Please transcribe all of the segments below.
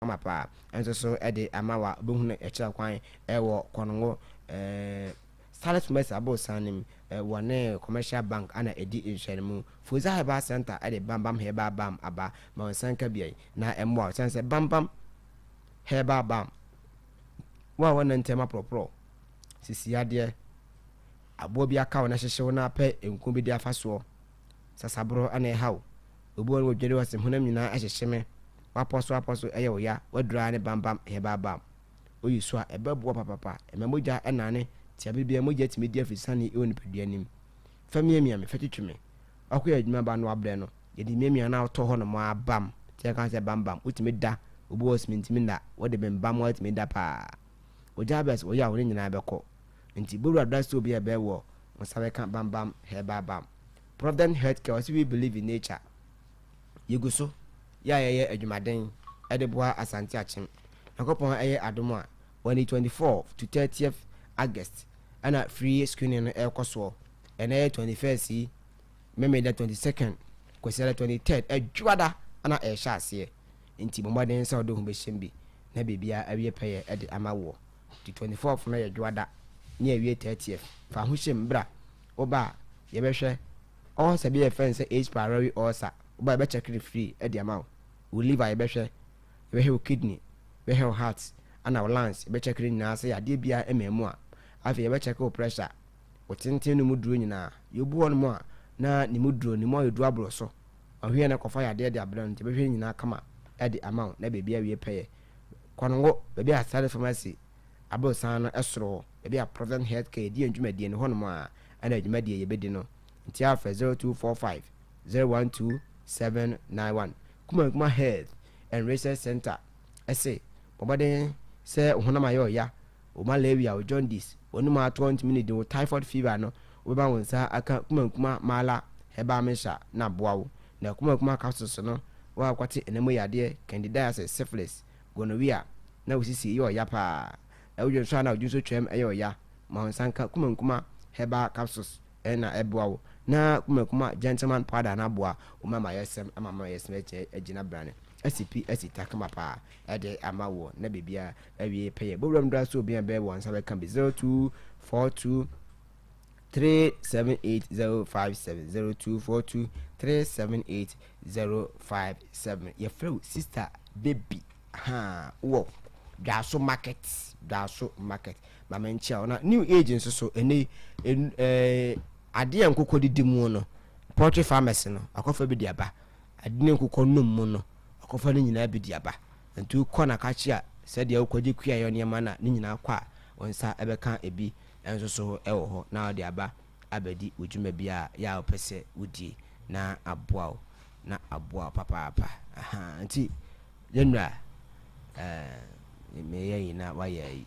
ama paa nso so de ama wa bɛ hunu ɛkyerɛ kwan wɔ kɔngo Salis Mɛsi abosan nim wɔ ne commercial bank ana ɛdi nhyɛne mu Fuza Herbal Center de Bam Bam Herbal Balm aba ma wo nsa nka biayi na ɛmmoa wo sɛne sɛ Bam Bam Herbal Balm wo a wɔnna ntam aporɔporɔ sisi adeɛ aboa bi aka wo na hyehye wo na apɛ nko bi de afa soɔ sasaboro ana ɛha wo obi wɔ no wɔdwere wɔ se honam nyinaa ɛhyehye me W'apɔsoapɔso ɛyɛ wo ya, w'aduru ara ne bambam ɛyɛ baabam. Woyi so a, ɛbɛ boɔ papapa, ɛma mogya ɛnane tia bere biara, mogya tumi di afisane ɛwɔ nipadua nim. Fa miamia me, fa twitwi me. W'akɔ yɛ adwuma ba no w'abrɛ no, yɛde miamia no a wotɔ hɔ nom ara bam, nti yɛka sɛ bambam, wotumi da, obi wɔ hɔ simintimi nna, wode bembam ara tumi da paa. Ogya abɛs wo yaw ne nyinaa ɛbɛkɔ. Nti Bowura Dra Soap yɛ ɛbɛ wɔ wo nsa bɛka bambam, hair baabam. Provident Health Care ɔse we believe in nature. Yegu so yɛ a yɛyɛ adwumaden de boa Asante Akyem. Nyankopɔn ɛyɛ adom a, on the 24th to 30th August ɛna free screening no ɛrekɔ soɔ. Ɛnɛ yɛ 21st yi, Memeda 22nd, Kwasiada 23rd, Adwoada ɛna ɛrehyɛ aseɛ. Nti bɔ mmɔden sɛ wode wo ho bɛhyɛm bi na biribiara awie pɛyɛ de ama woɔ. Nti 24th no yɛ Dwoada ne awie 30th. Fa ahohyem bra. Woba a, yɛbɛhwɛ. Ulcer bi a yɛfrɛ no sɛ H. pylori ulcer, woba a yɛbɛkyɛke no free de ama wo. Wo liver yɛbɛhwɛ, yɛbɛhwɛ wo kidney, yɛbɛhwɛ wo heart ɛna wo lungs, yɛbɛkyɛke ne nyinaa sɛ yadeɛ biara mmaa mu a. Afei yɛbɛkyɛke wo pressure, wo tenten no mu duro nyinaa. Yɛwɔ bi wɔ nom a na ne mu duro, ne mu ayɛ duru aboro so, ɔhwɛ yɛ na kɔfa yadeɛ de abrɛ no, nti yɛbɛhwɛ ne nyinaa kama de ama wo na baabi awie pɛyɛ. Kwango, baabi a Sare Pharmacy aborosan no soro hɔ. Baabi a Provident Health Care di yɛn dwumadie no, hɔnom ara na dwumadie a yɛbɛdi no. Nti ara frɛ 0245 012 791. Kuma Nkrumah Health and Research Centre se, Bɔ mmɔden sɛ wo honam ayɛ ɔya, wo malaria, wo jaundice, w'anom atɔ ntumi nnidi, wo typhoid fever no, wobɛma wo nsa aka Kuma Nkrumah Mala Herbal Mixture na aboa wo. Na Kuma Nkrumah Capsules no, woakwate anamu yadeɛ, candidiasis, syphilis, gonorrhea, na wo sisi yɛ ɔya paa. Wodwen so a na odwensɔ twam yɛ ɔya ma wo nsa nka kumankuma herbal capsules na ɛboa wo na kumankuma gentleman powder no aboa wo ma amayɛsɛm ama amayɛsɛm akyɛ agyina brane asi pi asi ta kama paa ɛde ama wo na bebia awie pɛyɛ bowura mdra so obia bɛ wɔ nsa bɛka bi 0242 three seven eight zero five seven zero two four two three seven eight zero five seven yɛfrɛ wo sister baby haa wɔ dwaso market dwaso market mama nkyia wo na new age nso so ɛnɛ yi ɛn- ɛɛ adeɛ a nkokɔ didi mu no poultry farmers no akɔfa bi de aba ade ne nkokɔ nom mu no akɔfa no nyinaa bi de aba nti wokɔ na ka kye a sɛdeɛ wokɔgye kuayɔ nneɛma no a ne nyinaa kɔ a wo nsa ɛbɛka ebi nso so wɔ hɔ na ɔde aba abɛdi wo dwuma bi a yɛ a wopɛ sɛ wodie na aboa wo na aboa wo papaapa ahaa nti yɛn nura ɛɛ me yɛ yi na wayɛ yi.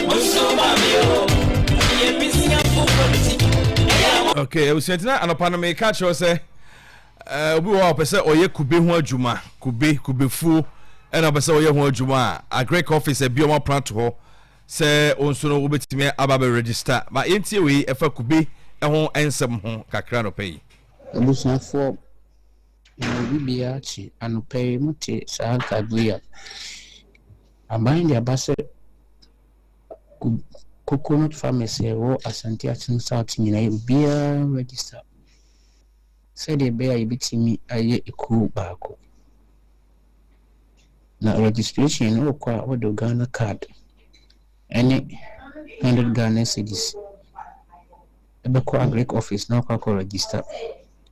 okay abusuatena anɔpa no meka kyerɛ sɛ eh, obi wɔ a ɔpɛ sɛ ɔyɛ kube ho adwuma kube kubefuo ɛna ɔpɛ sɛ ɔyɛ ho adwuma a agric office abi ɔmo apena to hɔ sɛ wo nso no wobɛtumi aba bɛ register ma yɛntie wei ɛfa kube ho nsɛm ho kakra nɔpɛ yi abusuafoɔ na obi biara akyi anɔpɛ yi mote saa nkaebɔ yi a Aban de aba sɛ Coconut Farmers a ɛwɔ Asante Akyem South nyinaa obiara register sɛdeɛ ɛbɛyɛ a yɛbɛtumi ayɛ ekuo baako. Na registration no wokɔ a wode Ghana card ɛne hundred Ghana cedis ɛbɛkɔ agric office na wakɔ akɔ register.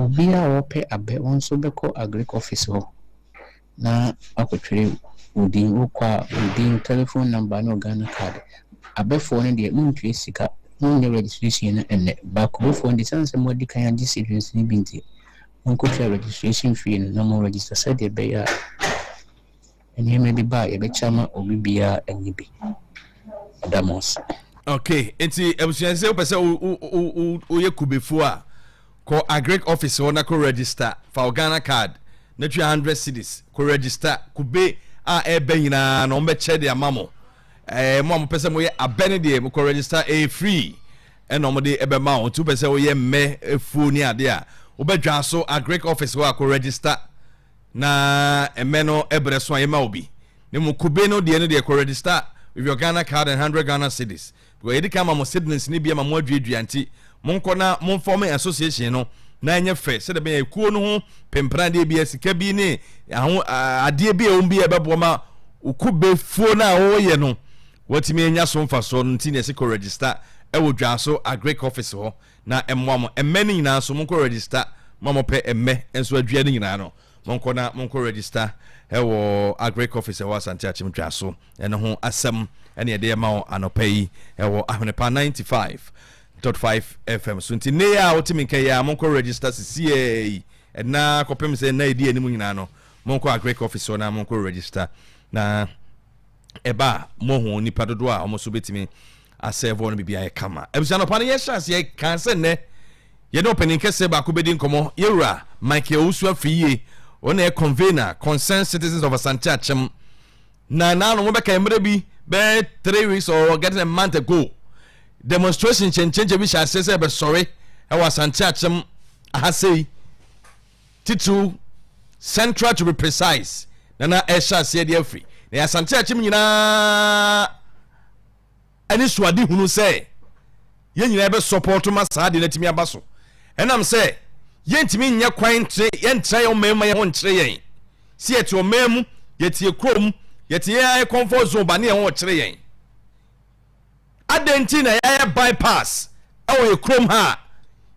Obiara a ɔpɛ abɛ ɔno nso bɛkɔ agric office hɔ na wakɔtwerɛ wo din, wokɔ a wo din, telephone number ne wo Ghana card. Abɛfoɔ no deɛ montua sika, monyɛ registration no ɛnnɛ but kurofoɔ no deɛ ɛsiane sɛ moadi kan agye seedlings no bi nti, monkɔtua registration fee no na mo register sɛdeɛ ɛbɛyɛ a. Nneɛma bi ba a yɛbɛkyɛ ama obi biara ɛnyɛ bi. Meda mo ase. Okay, nti abusua sɛ wopɛ sɛ woyɛ kubefo a kɔ agric office hɔ na kɔ register fa wo Ghana card na tua hundred cedis kɔ register kube a ɛbɛ nyinaa na wɔbɛkyɛ de ama mo ɛɛ eh, mo a mopɛ sɛ moyɛ abɛ no deɛ mokɔ register ɛyɛ free ɛna wɔde ɛbɛma wɔn nti wopɛ sɛ woyɛ mmɛ afuo ne ade a wobɛdwa so agric office hɔ a kɔ register na ɛmɛ no ɛbrɛ so a yɛma wo bi na mu kube no deɛ no deɛ kɔ register with your Ghana card and hundred Ghana cedis because yɛde kan ma mo cedis no bi ama mo aduadua nti monkɔ na momfa mo association no na ɛnyɛ fɛ sɛdeɛ bɛyɛ ekuo no ho pempenadeɛ bi sika bi ne aho adeɛ bi a ɛwɔ mu bi a ɛbɛboa ma okubefuo no a wɔyɛ no wɔatumi anya so mfasoɔ no nti na ɛsɛ kɔ register ɛwɔ dwa so agric office hɔ Na mmoa mo mmɛ no nyinaa nso monkɔ register, mo a mopɛ mmɛ nso adua no nyinaa no monkɔ na monkɔ register wɔ Agric office ɛwɔ Asante Akyem Dwa so. Ɛno ho asɛm ɛne ɛde ɛma wo anɔpa yi ɛwɔ Ahwenepa 95.5 FM so. Nti nnɛ yi a wotumi nka yi a monkɔ register sisiei, ɛnna kɔpem sɛ nna ɛdi anim nyinaa no monkɔ Agric office hɔ na monkɔ register na ɛba a mohu nipa dodoɔ a wɔn so bɛtumi asɛɛvɔ no biribi ayɛ kama abusua nɔpa no yɛhyɛ aseɛ kan sɛ nnɛ yɛne ɔpanin kɛseɛ baako bɛdi nkɔmmɔ yɛwura michael owusu afiri yie wɔn yɛ convener concerned citizens of asante akyem na na no wɔbɛka mmerɛ bi bɛyɛ three weeks or getting a month ago demonstration kyɛnkyɛnkyɛn bi hyɛ aseɛ sɛ ɛbɛsɔre ɛwɔ asante akyem ahasɛi titiriw Central to be precise, na na ɛhyɛ aseɛ de afiri na Asante akyem nyinaa ɛne suade hunu sɛ yɛn nyinaa bɛ sɔpɔɔto ma saa de no atumi aba so ɛnam sɛ yɛntumi nyɛ kwan ntre yɛntra yɛn ɔman mu yɛn ho nkyerɛ yɛn si yɛte ɔman mu yɛte kurom yɛte yɛn ayɛ comfort zone ba ne yɛn ho ɔkyerɛ yɛn Adɛn nti na yɛayɛ bypass wɔ yɛn kurom ha a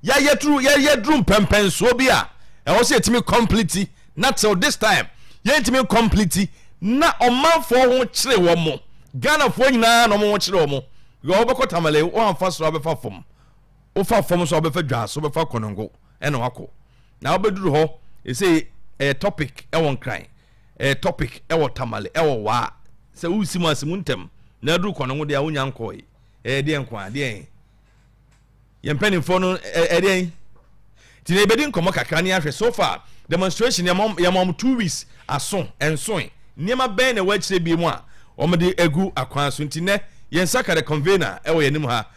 yɛayɛ turu yɛyɛ duru mpɛmpɛnsoɔ bi a ɛwɔ sɛ yɛtumi complete na till this time yɛntumi complete na ɔmanfoɔ ho kyere wɔn mo Ghanafoɔ nyinaa na wɔn ho kyere wɔn yɛ wɔbɛkɔ tamale wɔamfa soro abɛfa fam Wofa fam nso a wobɛfa dwa so bɛfa konongo na wakɔ na wobɛduru hɔ ɛsɛ ɛyɛ topic ɛwɔ nkran ɛyɛ topic ɛwɔ tamale ɛwɔ waa sɛ wosi mu ase mu ntɛm na aduru konongo deɛ a wonya nkɔe ɛyɛ deɛ nko a deɛ yɛn mpanimfoɔ no ɛdeɛ nti na yɛbɛdi nkɔmmɔ kakra ne ahwɛ so far demonstration yɛma wɔn two weeks aso nsoe nneɛma bɛn na ɛwɔ akyire bi mu a wɔde agu akwan so nti nɛ yɛn nsa ka the convener ɛwɔ yɛn anim ha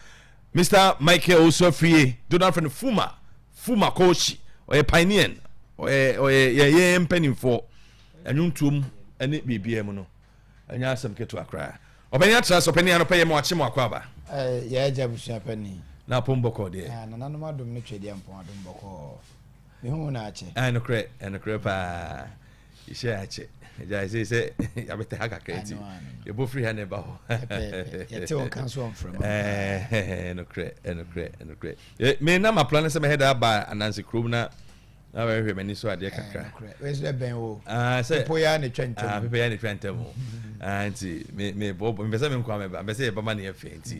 Mister Michael Owusu Afriyie, dodoɔ no ara frɛ no Fuma, Fuma Koohyi, ɔyɛ pioneer no, ɔyɛ ɔyɛ yɛ yɛ mpanimfoɔ, ɛnwontoom ɛne biribiara mu no, ɛnyɛ asɛm ketewa koraa. Ɔpanin atra so, ɔpanin anɔpɛ yɛ ma wakye mo akɔ aba. Ɛɛ yɛ agya abusua panin. Na apom bɔkɔɔ deɛ. Ɛɛ nananom adom ne twɛdeɛ mpɔn adom bɔkɔɔ. Mehu wo na akyɛ. Ɛɛ nokorɛ, ɛnokorɛ paa. yɛhyɛ akyɛ agya ɛsɛ sɛ yɛabɛtɛ ha kakra nti yɛbɔ firi ha na ɛba hɔ yɛte wo nka so ɔmfrɛma nokorɛ nokorɛ nokorɛ me na mapla no sɛ mɛhɛ da aba ananse kurom na na bɛhwɛ m'ani so adeɛ kakra sɛ pepoyɛ ne twa ntam pepoyɛ ne twa ntam nti mebɔbɔ mpɛ sɛ menkɔ a mɛba mpɛ sɛ yɛbɛma ne yɛfɛ nti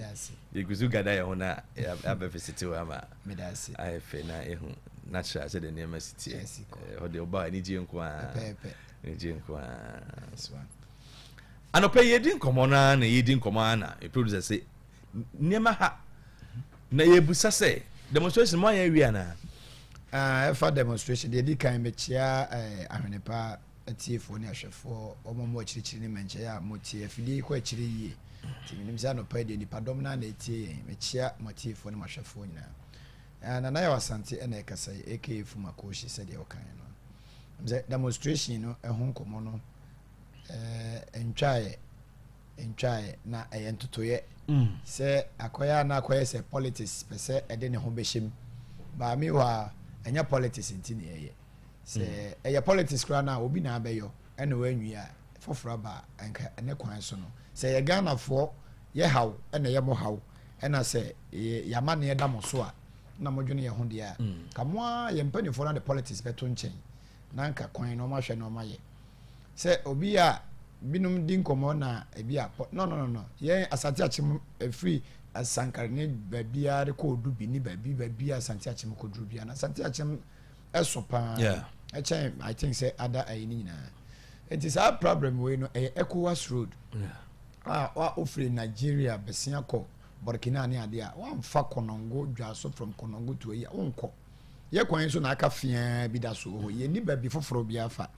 yɛgu so gada yɛ ho na yɛabɛfisitew ama Meda ase. Ayɛ fɛ na ehu na kyerɛ sɛ de nneɛma si teɛ. Ɛhɔ deɛ ɔba anigye nko ara. Pɛpɛɛpɛ. Anigye nko ara. Anɔpɛ yi yɛdi nkɔmɔ no ara na yɛdi nkɔmɔ ara na yɛ producer sɛ nneɛma ha na yɛbusa sɛ demonstration mo ayɛ awie anaa? Ah, ɛfa demonstration deɛ di kan mekyia eh, ahwene paa atiefoɔ ne ahwɛfoɔ, wɔn a wɔakyirikyiri ne mmɛnkyɛeɛ a motie. Afidie yi kɔ akyire yie, nti menim sɛ anɔpa yi deɛ nnipadɔm no ara na ɛretie yɛn. Mekyea mo atiefoɔ ne mo ahwɛfoɔ nyinaa. Ah, Nana Yaw Asante na ɛrekasa yi, aka Fuma Koshi sɛdeɛ wokaeɛ no. Ɛm sɛ demonstration no ɛho nkɔmmɔ no eh, ntwaeɛ, ntwaeɛ na ɛyɛ ntotoeɛ mm. sɛ akɔyɛ a na akɔyɛ sɛ politics pɛ sɛ ɛde ne ho bɛhyɛm. Baa me hɔ a, ɛnyɛ politics nti ne ɛyɛ. sɛ hmm. ɛyɛ politics koraa na obi na abɛyɔ ɛna wɔanwie a foforɔ aba nka ɛne kwan so no sɛ yɛ ghanafoɔ yɛ haw ɛna yɛ mo haw ɛna sɛ yɛama ne ɛda mo so a na modwene yɛ ho deɛ a hmm. ka mo a yɛ mpanimfoɔ no de politics bɛto nkyɛn na nka kwan na ɔmahwɛ na ɔmayɛ sɛ obi a binom di nkɔmmɔ na ebi a no no no no yɛn asante akyem ɛfiri asankare ne baabiara kɔ odu bi ne baabi baabi asante akyem kɔduru biara na asante akyem ɛso paa ɛkyɛn i think sɛ ada ayi ne nyinaa nti saa problem wei no ɛyɛ ecowas road a wofiri nigeria bɛsia kɔ burkina ne adeɛ a wamfa konongo dwa so from konongo to ayi a wonkɔ yɛ kwan so na aka feaa bi da so wɔ hɔ yɛnni baabi foforɔ bi afa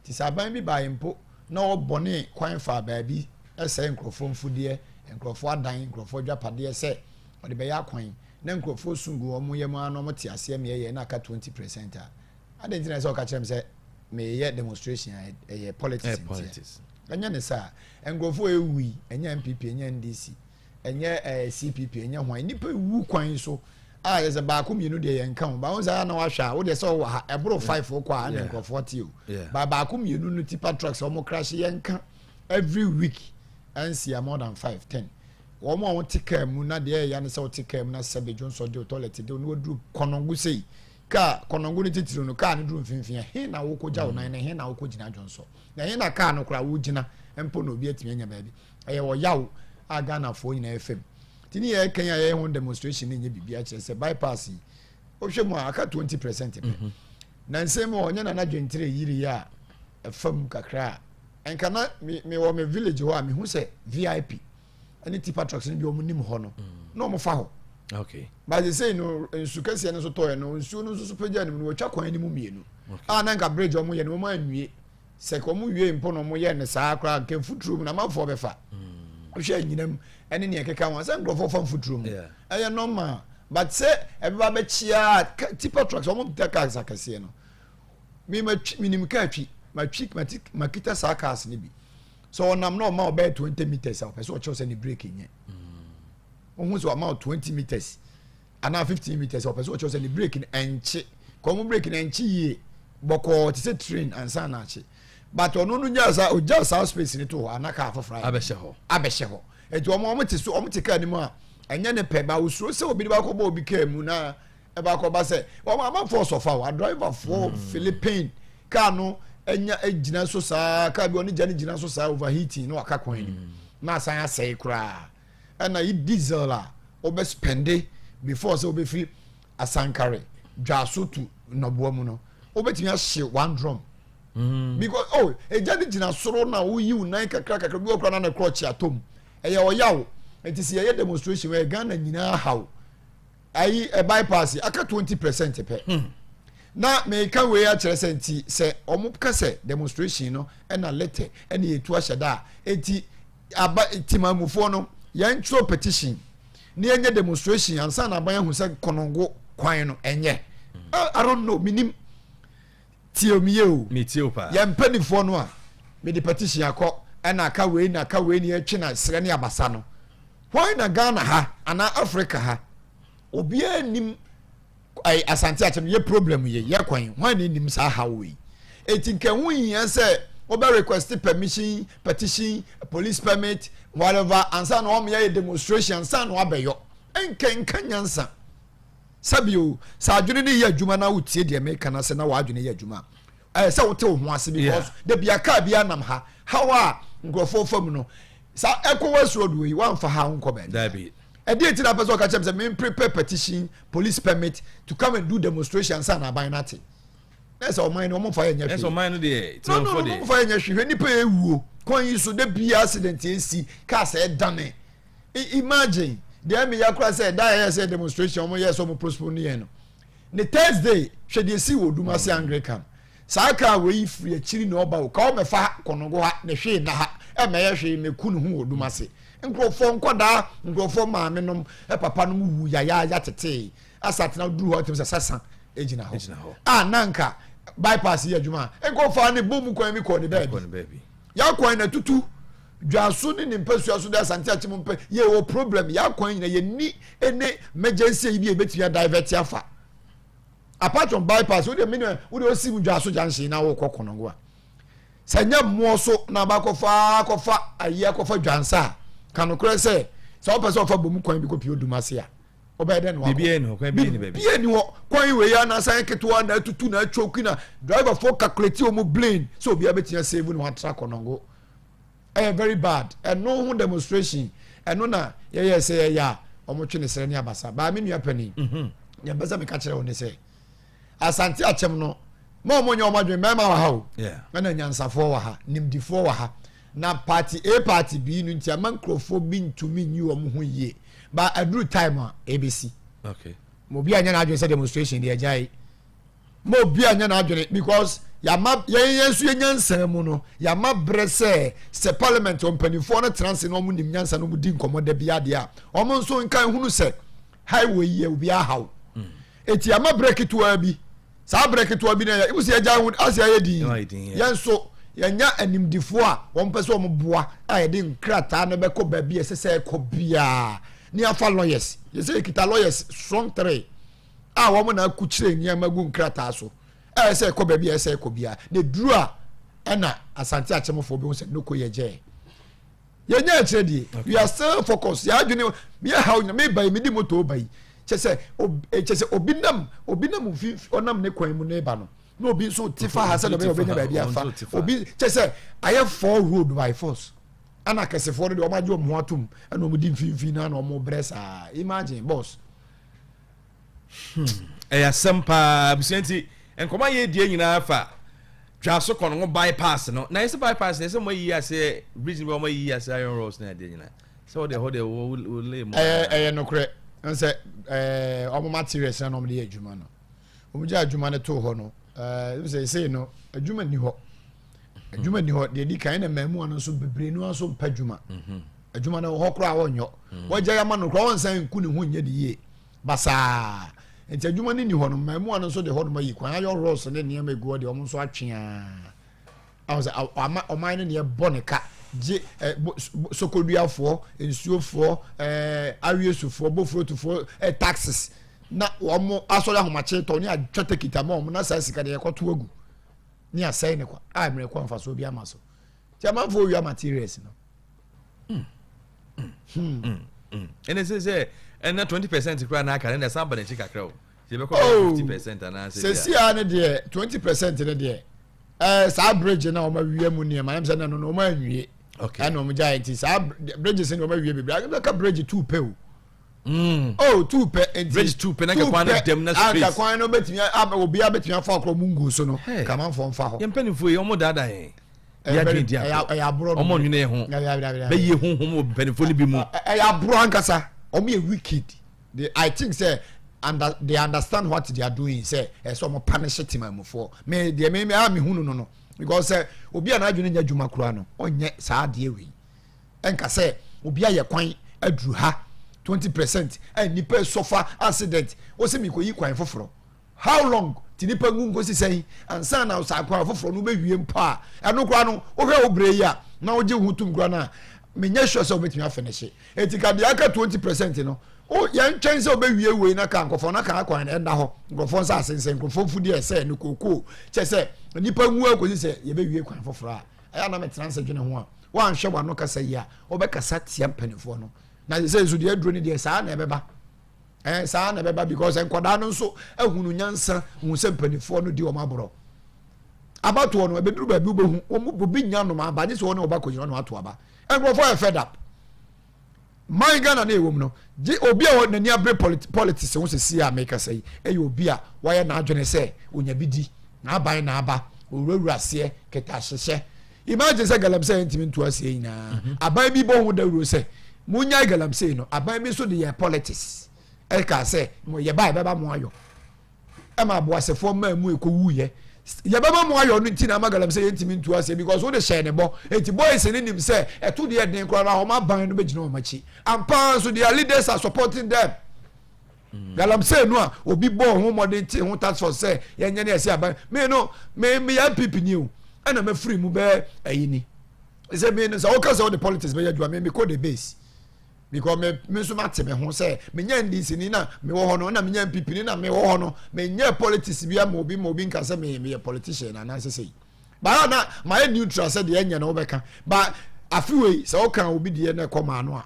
nti sɛ aban bi baeɛ mpo na wɔbɔne kwan faa baabi ɛsɛ nkurɔfoɔ mfudeɛ nkurɔfoɔ adan nkurɔfoɔ adwapadeɛ sɛ ɔde bɛyɛ akwan na nkurɔfoɔ su gu wɔn yam ara na wɔte aseɛ meɛyɛ na aka twenty percent a adɛn nti na ɛsɛ sɛ ɔka kyerɛ me sɛ meyɛ demonstration a ɛyɛ politics ntia ɛnyɛ ne saa nkurɔfoɔ ɛwu yi ɛnyɛ npp ɛnyɛ ndc ɛnyɛ ɛɛ cpp ɛnyɛ hwan nnipa ɛwu kwan so a yɛ sɛ baako mmienu deɛ yɛn ka ho baako sɛ ayɛ na wahwɛ a wodeɛ sɛ ɔwɔ ha ɛboro five kɔ a ɛna nkurɔfoɔ te o ba baako mmienu no tipa trucks wɔn crash yɛn ka every week ɛnsia more than five ten Wɔn a wɔte kaa mu na deɛ ɛya ne sɛ wɔte kaa mu na sɛ bedwonsɔ dew, tɔlɛt dew, na wɔduru kɔnɔngo sei, kaa, kɔnɔngo no titiriw no, kaa no duru mfimfini a, he na wokɔgya wo nan na he na wokɔgyina dwonsɔ? Na he na kaa no koraa wogyina mpo na obi atumi anya baabi? Ɛyɛ ɔyaw a Ghanafoɔ nyinaa fa mu. Nti ne yɛyɛ kan a yɛyɛ ho demonstration no nyɛ biribi akyerɛ sɛ bypass yi, wohwɛ mu a aka 20 percent pɛ. Nansa mu a ɔnyɛ Nana Dwentire yiri a ɛfa mu kakra a nka na me wɔ me village hɔ a me hu sɛ vip ɛne tipa trucks no bi wɔn nim hɔ no na wɔn fa hɔ okay baasi sey no nsu kɛseɛ no nso tɔɔɛ no nsuo no nso so pagya no mu no wɔtwa kwan no mu mmienu a na nka bridge wɔn yɛ no wɔn anwie sɛ ka wɔn wie mpo na wɔn yɛ no saa koraa nka mfuturo mu na amanfoɔ bɛfa mm. wohwɛ anyinam ɛne nea ɛkeka ho sɛ nkurɔfoɔ fa mfuturo mu ɛyɛ normal but sɛ ɛbɛba bɛkyia tipa trucks wɔn da cars akɛseɛ no me ma twi me nim kaa twi ma twi ma ti ma kita saa cars ne bi sɛ ɔnam na ɔma ɔbɛyɛ twenty meters a ɔpɛ sɛ ɔkyerɛw sɛ ne brake nyɛ ohun mm. sɛ ɔma twenty meters anaa fifteen meters ɔpɛ sɛ ɔkyerɛw sɛ ne brake no ɛnkye kɔn mu brake no ɛnkye yie bɔkɔɔ te sɛ train ansa na akye but ɔno no gyaa saa ogyaa saa space ne to hɔ ana kaa foforɔ ayɛ abɛhyɛ hɔ abɛhyɛ hɔ eti wɔn wɔn te so wɔn te kaa ne mu a ɛnyɛ ne pɛ ba osuro sɛ obi de ba kɔ bɔ obi kaa mu na. ɛba kɔ ba sɛ wɔn amanfoɔ sɔfa wa driverfoɔ hmm. philippine kaa no anya gyina so saa kaa bi wɔn gya no gyina so saa overheating na waka kwan anim hmm. na asan asɛe koraa ɛna yi diesel a wɔbɛ spɛnde before sɛ wɔbɛfiri asankare dwaso tu nnɔboa mu no wɔbɛtumi ahye one drum. Hmm. because oh egya no gyina soro na woyi wo nan kakra kakra bi wɔ kora na ne korɔ kyi atom ɛyɛ ɔyaw nti sɛ yɛyɛ demonstration wɔ ghana nyinaa haw ayi ɛ bypass aka twenty percent pɛ hmm. na meka wei akyerɛ sɛ nti sɛ ɔmo ka sɛ demonstration no ɛna lɛtɛ ɛna yɛtu ahyɛ da a nti aba timamufoɔ no yɛn twerɛ petition ne yɛnyɛ demonstration ansa na aban ahu sɛ kɔnɔngo kwan no ɛnyɛ hmm. I don't know menim Tieo me yie o. Me tieo paa. Yɛ mpanifoɔ no a me de petition akɔ ɛna aka wei na aka wei ne yɛ twe na srɛ ne abasa no why na Ghana ha anaa Africa ha obiara nim ɛɛ asante akyɛ no yɛ problem yɛ yɛ kwan why na nim saa ha wei eti nka ho hia sɛ wɔbɛ request permission petition police permit whatever ansa na wɔn yɛ demonstration ansa na wɔabɛyɔ nka nka nyansa. Sɛ bio, sɛ adwene no yɛ adwuma na wotie deɛ meka no ase na w'adwene yɛ adwuma a, ɛyɛ sɛ wote wo ho ase because da bia kaa bia nam ha haw a nkurɔfoɔ fa mu no sa ɛkɔ wɔ asuro doɔ yi woamfa ha wonkɔ baabi ɛdeɛ nti na apɛ sɛ ɔka kyɛm sɛ men prepare petition police permit to come and do demonstration ansa na aban no ate na sɛ ɔman no ɔmfa yɛ nyɛ hwee ɔman no deɛ ɔmfa yɛ nyɛ hwee nipa yɛ wuo kwan yi so da bia accident ɛsi kaa sɛ ɛdane imagine deɛ meyɛ koraa sɛ da yɛyɛ sɛ demonstration wɔn yɛ sɛ wɔn postpone ne yɛn no ne thursday hwɛ deɛ si wɔ dum ase anglican saa kaa wɔ yi firi akyiri na ɔba o kaa ɔmɛfa ha kɔnɔgo ha ne hwee na ha ɛmɛyɛ hwee na eku ne ho wɔ dum ase nkurɔfoɔ nkɔdaa nkurɔfoɔ maame nom papa nom wu yayaaya tetee asatena duru hɔ tɛm sɛ sasa egyina hɔ a nanka bypass yɛ adwuma nkurɔfoɔ ne bɔ mu kwan mi kɔɔ ne baabi. Y'akwan na tutu dwaso ne ne mpasua so dɛ Asante Akyem mpɛ. Yɛwɔ problem, y'akwan nyina yɛnni ne mɛgyɛnsi ayi bi a yɛbɛtumi a divert afa. Apart from bypass, wode mene wode osi mu dwaso junction na wokɔ konongo a. Sɛ nyɛ mmoɔ so na abakɔfa akɔfa ayi akɔfa dwansa a, ka nokorɛ sɛ sɛ wopɛ sɛ ɔfa bɔ mu kwan bi kɔ pii odum ase a. ɔbɛyɛ dɛ na wakɔ biribi ɛni hɔ kwan bi ɛni baabi biribi ɛni hɔ kwan wei yɛ na asan yɛ ketewa na atutu na atwoki na driver fo calculate wɔn blame sɛ obi abɛtumi asave na watra kɔnɔngo ɛyɛ very bad ɛno ho demonstration ɛno na yɛyɛ sɛ yɛyɛ a wɔn twe ne srɛ ne abasa baa mi nua panyin mhm. nea mpɛ sɛ meka kyerɛ wɔn ne sɛ Asante akyɛm no ma wɔn nyɛ wɔn adwene mmarima wɔ ha o ɛna nyansafoɔ wɔ ha nimdifoɔ wɔ ha na party A party B no nti ama nkurɔfoɔ bi ntumi nyi wɔn ho yie ba aduru time a ebesi. Okay. Mo obi anya n'adwene sɛ demonstration deɛ agya yi mo obi anya n'adwene because yàmà yɛn yɛn nso yɛn nyansa mu no yàmà brɛ sɛ sɛ parliament mpanyinfoɔ no tena ase na wɔn nim nyansa no wɔn di nkɔmɔ da bi adeɛ a wɔn nso nka ehunu sɛ highway yɛ obi ahaw. Mm. Eti ama berɛ ketewa bi, saa berɛ ketewa bi na yɛ, ebusi yɛgya ho ase ayɛ din. Yɛn nso yɛnya animdifoɔ a wɔn pɛ sɛ wɔn boa a yɛde nkrataa no bɛkɔ baabi a ɛsɛ sɛ ɛkɔ biara ne yɛafa lawyers. Yɛsɛ yɛkita lawyers strong three a wɔn na akukyire nneɛma gu nkrataa so a ɛsɛ ɛkɔ baabi a ɛsɛ ɛkɔ biara na eduru a ɛna asante akyɛmfoɔ bi ho sɛ noko yɛgyɛɛ. yɛnyɛ akyerɛ deɛ we are still focused yɛ adwene mi ɛha onya mi ba yi mi di moto ɔba yi kyɛ sɛ obi eh, kyɛ sɛ obi nam obi nam mfinfin ɔnam ne kwan mu na ɛba no na obi nso ti fa ha sɛ na ɔbɛyɛ ɔbɛnya baabi afa obi kyɛ sɛ ayɛ four road by force ɛna akɛsefoɔ no deɛ wɔn agye wɔn ho atum ɛna wɔn di mfinfin na wɔn brɛ saa imagine boss. Hmm, ɛyɛ asɛm paa abusua nti nkɔmɔ a yɛdie nyinaa fa dwaso kɔn ho bypass no na ɛsɛ bypass na ɛsɛ mo ayi ase bridge no bɛ mo ayi ase iron rolls na ɛdeɛ nyinaa sɛ wɔde ɛhɔ deɛ wɔlɛ mu ɛyɛ nokorɛ nsɛ ɔmo materials na ɔmo de yɛ adwuma no ɔmo gya adwuma no too hɔ no ɛsɛ ɛsɛ no adwuma ni hɔ adwuma ni hɔ deɛ di kan na mmaamua no nso bebree no nso mpa adwuma mhm. adwuma no hɔ koraa wɔnyɔ mhm. wɔgya yama no koraa wɔnsan nku ne ho nyɛ de yie basaa nti adwuma no ni hɔ no mmaamua no nso de hɔ nom ayi kwan ayɔ rɔs ne nneɛma egu hɔ deɛ wɔn nso atwea ahɔ sɛ ɔma ɔman no deɛ bɔ ne ka gye ɛ sokoduafoɔ nsuofoɔ ɛɛ awiesufoɔ bofurotufoɔ ɛ taxes na wɔn asɔre ahomakye tɔ ne atwa tekita ma wɔn na saa sika deɛ yɛkɔto agu. ne asɛe ne kwa a mmerɛ kɔ mfasoɔ bi ama so nti amanfoɔ owia materials no hmm. Hmm. Hmm. ɛnɛ sɛ sɛ ɛnɛ twenty percent koraa na aka ne na ɛsan ba n'akyi kakra o sɛ ɛbɛkɔ bɛ fifty percent anaasɛ bia sɛsi a ne deɛ twenty percent ne deɛ ɛɛ saa bridge na wɔn awia mu nneɛma ɛnam sɛ na no na wɔn anwie ɛna wɔn gya nti saa bridge sɛ na wɔn awia bebree ɛbɛka bridge two pɛ o. Mm. Oh, two pɛ nti. Bridge two pɛ na nka kwan no dɛm na space. Anka kwan no betumi obi a betumi afa ɔkɔrɔ mu ngu so no. Kamanfoɔ nfa hɔ. Yɛn mpanyinfoɔ yi wɔn daadaa yɛn. Ɛyɛ adwene di ato. Ɛyɛ aborɔ no. Wɔn nwene yɛ ho. Bɛyie ho ho wɔ mpanyinfoɔ no bi mu. Ɛyɛ aborɔ ankasa. Wɔn yɛ wicked. They, I think sɛ under, they understand what they are doing sɛ ɛsɛ wɔn punish temamufoɔ. Me deɛ me me a me hunu no no because sɛ obi a n'adwene nyɛ adwuma koraa no ɔnyɛ saa adeɛ wei. ɛnka sɛ obi ayɛ kwan aduru ha twenty percent a nipa sɔfa accident wɔsi mi kɔ yi kwan foforɔ how long ti nipa ngu nkosi sɛn ansa na ɔsa kwan foforɔ no bɛwie mpo a ɛno koraa no wohwɛ wo bere yi a na wogye ho tum koraa no a menyɛ sure sɛ wobɛtumi afɛ no hye ɛti ka deɛ aka twenty percent no o yɛntwɛn sɛ wobɛwie wei na ka nkurɔfoɔ no aka kwan ɛnda hɔ nkurɔfoɔ nsa asensɛn nkurɔfoɔ mfudeɛ sɛ ne kookoo kyɛ sɛ nipa ngu akosi sɛ yɛbɛwie kwan foforɔ a Ɛyɛ a na metena ase dwene ho a, woanhwɛ w'ano kasa yi a, wobɛkasa tia mpanimfoɔ no. Na sɛ nso deɛ aduro no deɛ saa na ɛbɛba. Ɛɛ saa na ɛbɛba because nkwadaa no nso ahunu nyansa hu sɛ mpanimfoɔ no di wɔn aborɔ. Abatoɔ no ɛbɛduru baabi wobɛhu wɔn obi nya nom aba nye sɛ wɔn na wɔba kɔnyina no ato aba. Nkurɔfoɔ yɛ fed up. man Ghana na ɛwɔ mu no gye obi a n'ani abere politics ho sisi a mekasa yi ɛyɛ obi a wayɛ n'adwene sɛ onya bi di n'aban n'aba owurawura aseɛ keta ahyehyɛ imagine sɛ galamsey ntumi nto aseɛ nyinaa mhm. aban bi bɔ ho dawuro sɛ monyae galamsey no aban bi nso de yɛ politics ɛka sɛ mo yɛba ɛbɛba mo ayɔ ɛma aboasefoɔ maa mu ɛkɔ wuiɛ yɛbɛma mu ayɔ no nti na ama galam sɛ yɛntumi ntu aseɛ because wode hyɛɛ ne bɔ nti boys no nim sɛ ɛto deɛ den koraa na wɔn aban no bɛgyina wɔn akyi ampaa nso their leaders are supporting them mm. galamsey no a obi bɔɔ ho mmɔden te ho tax force sɛ yɛnyɛ ne ɛsɛ aban me no me meyɛ npp ni o ɛna mafiri mu bɛɛ ayi ni sɛ me no sɛ woka sɛ wode politics bɛyɛ adwuma me mekɔ the base because me me nso mate me ho sɛ menya ndc ni na mewɔ hɔ no na menya npp ni na mewɔ hɔ no menyɛ politics bia ma obi ma obi nka sɛ meyɛ meyɛ politician na anaasɛ sɛ yi baa na mayɛ neutral sɛ deɛ ɛnyɛ na wobɛka ba afe wei sɛ woka obi deɛ na ɛkɔ maa no a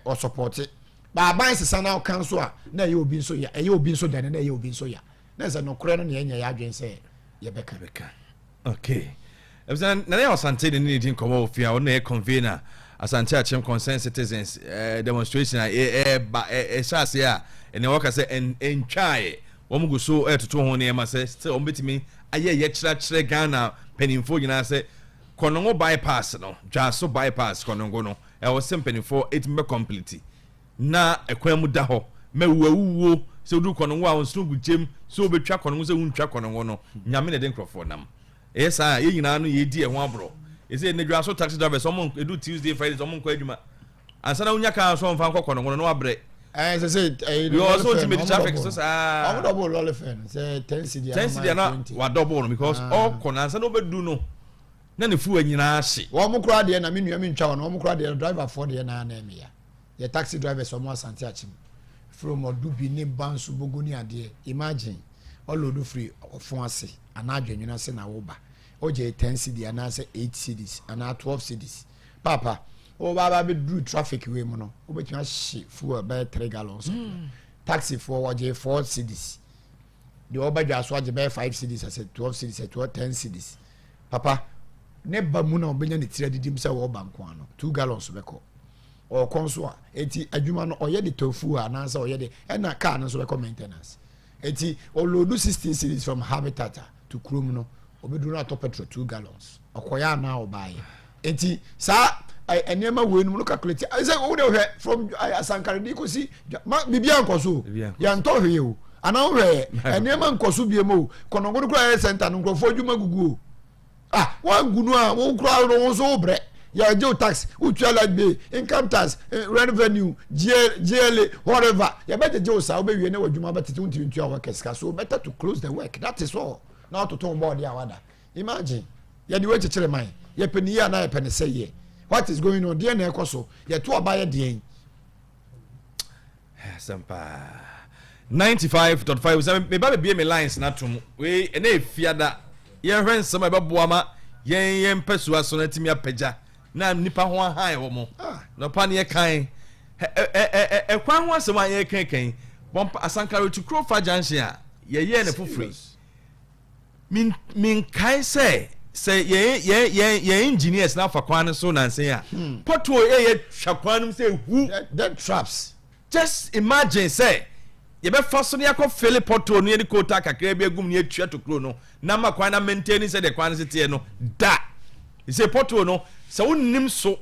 ɔsɔpɔte baaban sesa na ɔka nso a na ɛyɛ obi nso ya ɛyɛ obi nso dɛne na ɛyɛ obi nso ya na ɛsɛ nokorɛ no na yɛnyɛ yɛ adwene sɛ yɛbɛka bɛka Okay. Ebisa na yɛ Asante ne ne di nkɔmɔ wɔ fie a ɔno na yɛ convener Asante Akyem Concerned Citizens eh, demonstration a ɛba eh, eh, ɛhyɛ eh, ase a ɛnna wɔka sɛ ɛntwaeɛ wɔn gu so ɛtoto ho nneɛma sɛ sɛ wɔn bɛtumi ayɛ yɛkyerɛkyerɛ Ghana mpanimfoɔ nyinaa sɛ kɔnɔngo bypass no dwaaso bypass kɔnɔngo no ɛwɔ sɛ mpanimfoɔ ɛtumi bɛ complete Na ɛkwan mu da hɔ ma wu awuwuo sɛ woduru kɔno ngo a ɔnsoro gugyem sɛ wobɛtwa kɔno ngo sɛ wontwa kɔno ngo no nyame na ɛde nkurɔfoɔ nam ɛyɛ saa a yɛn nyinaa no yɛdi ɛho aborɔ ɛsɛ nnadwa so taxi drivers ɔmo ɛdu Tuesday Friday ɔmo nkɔ adwuma ansa na wonya kaa so ɔmfa nkɔ kɔno ngo no na wabrɛ ɛɛ sɛ sɛ ɛyɛ de lɔri fɛn no ɔmo traffic so saa ɔmo dɔbɔ lɔri fɛn no sɛ ten cedi ten cedi ana wadɔbɔ no because ɔkɔ na ansa na ɔbɛdu no na ne fuwa nyinaa hye wɔn kora deɛ na me nua me ntwa wɔn wɔn kora deɛ driver foɔ deɛ na anɛ me ya yɛ taxi drivers ɔmo asante akyem firi ɔmo ɔdo bi ne ba nso bogo ne adeɛ imagine ɔlodo firi ɔfon ase anaa adwennwene ase na woba ogye 10 cedi anaasɛ 8 cedis anaa 12 cedis paapa woba aba bɛduru traffic wei mu no wobɛtumi ahye fuel bɛyɛ 3 gallons mm. taxifoɔ wɔgye 4 cedis deɛ ɔba dwa so agye bɛyɛ five cedis ɛsɛ twelve cedis ɛsɛ twelve ten cedis papa ne ba mu na ɔbɛnya ne tiri adidim sɛ ɔba nko ano two gallons bɛkɔ ɔkɔ nso a eti adwuma no ɔyɛ de tɔ fuel anaasɛ ɔyɛ de ɛna kaa no nso bɛkɔ maintenance eti ɔloodu sixteen cedis from habitat to kurom no ɔbɛduru no atɔ petrol two gallons. Ɔkɔeɛ anaa ɔbaeɛ? Nti saa nneɛma wei nom no calculate sɛ wo de hwɛ from asankaredi kɔsi ma biribiara nkɔ so yɛntɔ hwee o anaa wohwɛ nneɛma nkɔ so bie mu o kɔnɔgono koraa yɛ center no nkurɔfoɔ adwuma gugu o ah wangu no a wo koraa no wo nso wo brɛ yɛgye wo tax wotua light bill income tax eh, revenue GLA whatever yɛbɛgyegye wo saa wobɛwie ne w'adwuma bɛtete wontumi ntua wɔ kɛsika so better to close the work that is all na watoto wo bɔɔde a wada Imagine yɛde wei kyekyere man yɛpɛ ne yie anaa yɛpɛ ne sɛ yɛ what is going on deɛ na ɛkɔ so yɛto aba yɛ deɛn. asɛm paa ninety five dot five sɛ meba bebie me lines na tom wei ɛna efiada yɛhwɛ nsɛm a ɛbɛboa ma yɛn yɛn mpɛsoa so na atumi apagya na nipa ho ahan wɔ mo ah. na ɔpa ne yɛ kan ɛkwan ho asɛm a yɛkankan bɔmpa asankare to krofa junction a yɛyɛɛ no foforo yi Min, menkae sɛ sɛ yɛn yɛn yɛn yɛn engineers na afa kwan no so nansen a hmm. pothole yɛ yɛ twa kwan no mu sɛ ehu dead traps just imagine sɛ yɛbɛfa so ne akɔ fele pothole no yɛde kootaa kakra bi agum ne atua to kuro no na ma kwan na maintain sɛ deɛ kwan no si teɛ no da sɛ pothole no sɛ wonim so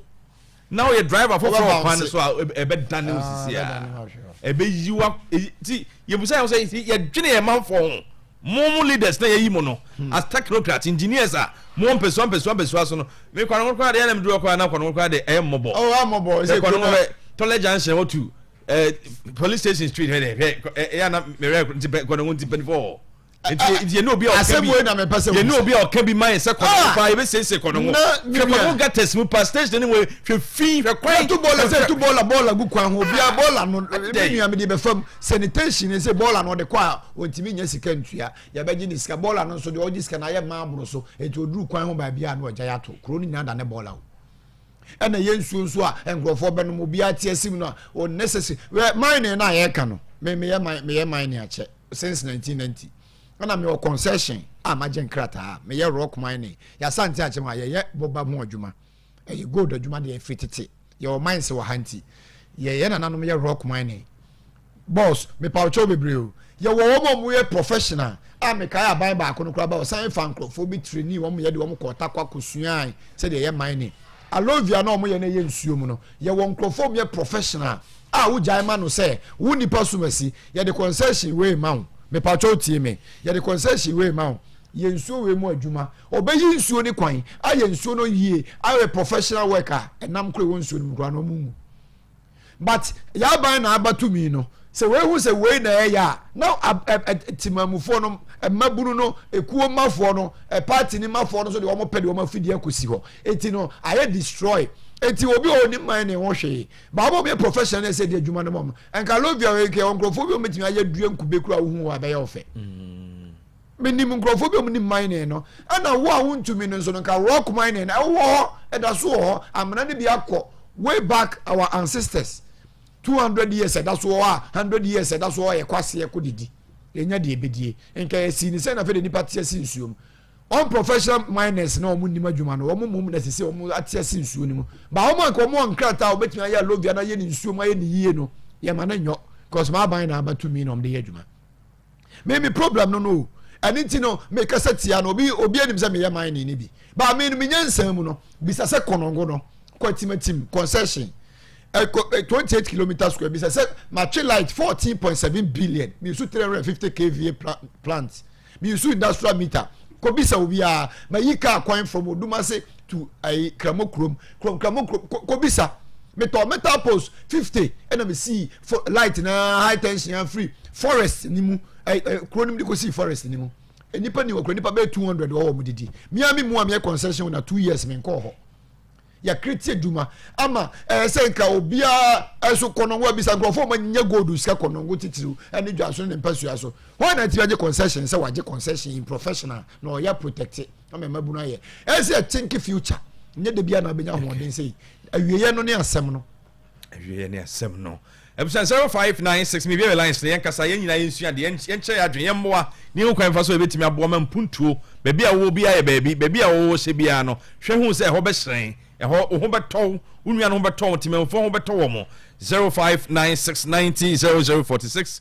na woyɛ driver foforɔ wɔ kwan no so a ɛbɛdane wo sisi a ɛbɛyi wa ti yɛbusa yɛn sɛ yɛdwene yɛn manfoɔ ho mo mo leaders na yɛyi mo no hmm. as technocrats engineers a mo wɔ mpɛsua mpɛsua mpɛsua so no me kwan no koraa deɛ ɛna meduru ɔkora na kwan no koraa deɛ ɛyɛ mmɔbɔ ɛyɛ mmɔbɔ ɛsɛ kwan no bɛ tɔlɛ junction wɔ tu police station street hɛ dɛ hɛ ɛyɛ ana mɛrɛ nti pɛ kwan no nti pɛnifɔɔ yɛne obi a ɔka bi yɛne obi a ɔka bi ma yɛ sɛ kɔnɔho ah! paa yɛbɛsiesie kɔnɔho hwɛ kɔnɔho gatas mu pa station ne mu hwɛ fi hwɛ kwan to bɔɔla sɛ to bɔɔla bɔɔla gu kwan ho ah! bia bɔɔla no ne nua mede bɛfa mu sanitation ne sɛ bɔɔla no ɔde kɔ a ɔntumi nya sika ntua yɛbɛgye ne sika bɔɔla no nso deɛ ɔgye sika no ayɛ maa aboro so ɛnti ɔduru kwan ho baabi a na ɔgya yɛ ato kuro no nyinaa da ne bɔɔla o ɛna ɛyɛ nsuo nso a nkurɔfoɔ bɛnom obiara te asim no a ɔnnecessary wɛ mining no a yɛreka no me meyɛ meyɛ mining akyɛ since 1990 ɛna mewɔ concession a magye nkrataa meyɛ rock mining yɛasante akyɛm a yɛyɛ boba ho adwuma ɛyɛ gold adwuma deɛ ɛfiri tete yɛwɔ mines wɔ ha nti yɛyɛ nananom yɛ rock mining Boss, mepawkyɛ wo bebree o. Yɛwɔ wɔn a wɔyɛ professional a mekae aban baako no koraa ba wɔsan fa nkurɔfoɔ bi trainee wɔn yɛ de wɔn kɔɔ Tarkwa kɔsuae sɛdeɛ yɛ mining. Aloe vera no a wɔyɛ no yɛ nsuo mu no, yɛwɔ nkurɔfoɔ a wɔyɛ professional a wogyae ma no sɛ wo nnipa som asi, yɛde concession wei ma wo. Mepawkyɛ wo tie me. Yɛde concession wei ma wo. Yɛ nsuo wei mu adwuma. Wɔbɛyi nsuo no kwan, ayɛ nsuo no yie, ayɛ professional work a ɛnam koraa ɛwɔ nsuo no mu koraa no wɔnwu. but yɛaban na aba tumi no sɛ wɔahu sɛ wei na ɛyɛ a na timamufoɔ no mmabunu no ekuo mmafoɔ no party ne mmafoɔ no nso deɛ wɔn pɛ deɛ wɔn afidie akɔsi hɔ eti no ayɛ destroy eti obi a ɔnim man na ɛho hwee baabo mi yɛ professional na ɛsɛ deɛ adwuma no mɔm nka lovia yɛ nkurɔfoɔ bi wɔn bɛtumi ayɛ dua nkube kura ohun wɔ abɛyɛ ɔfɛ. Mm. Menim nkurɔfoɔ bi a wɔnim mining no, ɛna wo a wontumi no nso no, nka rock mining no, ɛwɔ hɔ, ɛda so wɔ hɔ, amena no bi akɔ way back our ancestors, two hundred years ɛda so wɔ hɔ a, hundred years ɛda so wɔ hɔ a yɛkɔ aseɛ kɔ didi, yɛnya deɛ yɛbɛdie, nka yɛsii no sɛn na afei deɛ nnipa te ase nsuo mu, unprofessional miners no a wɔnnim adwuma no, wɔn mmom na sese wɔn ate ase nsuo no mu, but wɔn a nka wɔn wɔ nkrataa a wɔbɛtumi ayɛ alovia no ayɛ no nsuo mu ayɛ no yie no, yɛma no nyɔ, cos m'aban na aba tumi na wɔde yɛ adwuma. me me problem no no o ɛne nti no mekasa tia no obi obi anim sɛ meyɛ man ne ne bi ba me no menya nsan mu no bisa sɛ kɔnɔngo no kwatimatim concession ɛkɔ 28 kilometer square bisa sɛ matwe light 14.7 billion mesu 350 kva plant mesu industrial meter kɔbisa obiara mayi kaa kwan from odumase to ayi kramo kurom kurom kramo kurom kɔ kɔ bisa metɔ metal post fifty ɛna mi si fo light na high tension afiri forest ni mu ɛ ɛ kuro ni mu de ko si forest ni mu nipa ni wɔ kuro nipa bɛyɛ two hundred wɔ wɔn didi mia mi mu a mi yɛ concession na two years mi nkɔɔ hɔ yɛkiri ti adwuma ama ɛyɛ sɛ nka obiara ɛso kɔnɔngo abisa nkurɔfoɔ ma nyɛ gold sika kɔnɔngo titiriw ɛne dwa so ne mpasua so wɔn na ti agye concession sɛ wagye concession in professional na ɔyɛ protected. na mɛ mmabunu ayɛ ɛsɛ yɛ think future nyɛ de bi a na abɛnya ahoɔden sɛ yi awieɛ no ne asɛm no awieɛ ne asɛm no abusua zero five nine six mi bia lines na yɛn kasa yɛn nyinaa yɛn sua deɛ yɛn kyerɛ yɛn adwene yɛn mmoa ne ho kwan fa so ebetumi aboa ma mpuntuo baabi a wɔwɔ biara yɛ baabi baabi a wɔwɔ hyɛ biara no hwɛ ho sɛ ɛhɔ bɛhyerɛn ɛhɔ wo ho bɛtɔ wo wo nua no ho bɛtɔ wo tìmɛnfoɔ ho bɛtɔ wɔn zero five nine six ninety zero zero forty six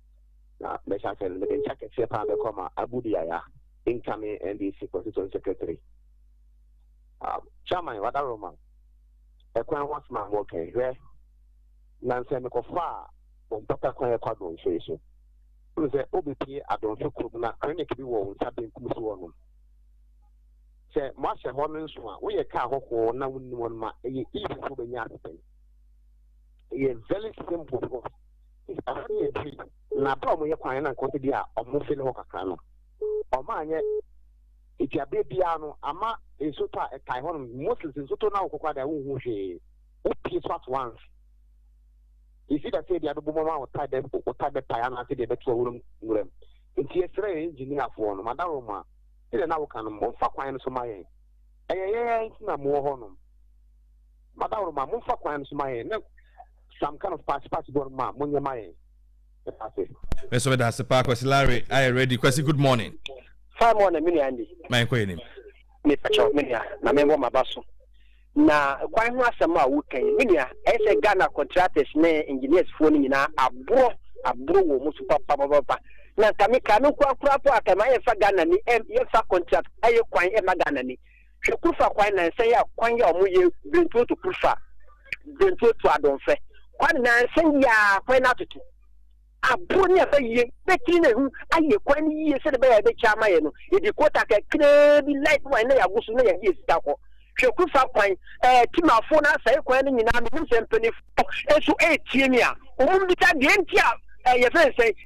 Na bɛhyɛ ase no, mede nsa kɛseɛ paa bɛkɔ ma Abu Diaya, incoming NDC constituent secretary. Um, chairman wada Roma, ɛkwan ho asoma mo kɛn hwɛ. Na nsɛ mekɔfa a bɔmpata kwan ɛkɔ adonfe so. Wone sɛ wobɛpie adonfe kurom na clinic bi wɔ wo nsa benkum so hɔ nom. Sɛ moahyɛ hɔ no nso a, woyɛ kaa hɔhoɔ na wonni wɔn ma ɛyɛ easy so bɛnya asɛm. ɛyɛ very simple because ɛsɛ yɛ diri na abira wɔn yɛ kwan na nkɔsi bi a wɔn fili hɔ kakra no wɔn anyɛ eduabe biara no ama nsoto a ɛtae hɔ no moses nsoto na wɔkɔkɔ ada wɔn ho hwee wopie so at once esi dɛ sɛ ebi abɛbɔ mu ama wɔtae bɛ wɔtae bɛ pae anaasɛ deɛ bɛto awura mu nwura mu nti ɛsrɛ yɛn engineerfoɔ no madam wɔn a ɛna na wɔka no wɔn fa kwan no so ma yɛn ɛyɛ yɛn nti na mo wɔ hɔ nom. Madam Roma, momfa kwan no so ma yɛn na some kind of party party bɔ no ma monyɛ ma yɛn. Meda ase. Me nso meda ase paa Kwasi Larry ayɛ ready Kwasi good morning. Fine morning me nua Andy. Ma yɛn kɔ yɛn anim. Mepakyɛw me nua na me wɔ m'aba so. Na kwan ho asɛm a woka yi me nua ɛyɛ sɛ Ghana contractors ne engineers foɔ no nyinaa aborɔ aborɔ wɔ wɔn so papapapa. Na nka me ka no nkoa koraa po a ka ma yɛmfa Ghana ni yɛmfa contract ɛyɛ kwan ɛma Ghana ni. Hwɛ kurfa kwan nansɛn a kwan yi a ɔmo yɛ brentuo to kurfa, brentuo to adonfɛ kwan nansɛn yi a kwan no atoto aboro ne aba yie bɛtiri ne ho ayɛ kwan no yie sɛde bɛyɛ a ɛbɛkyɛ ama yɛ no yɛde kota kakraa bi light wine na yɛago so na yɛde yɛ sika kɔ hwɛ kurfa kwan ɛɛ eh, timafo no asɛe kwan no nyinaa menim sɛ mpanyinfo nso ɛretie me a wɔn bisa deɛ nti a ɛyɛ fɛn sɛn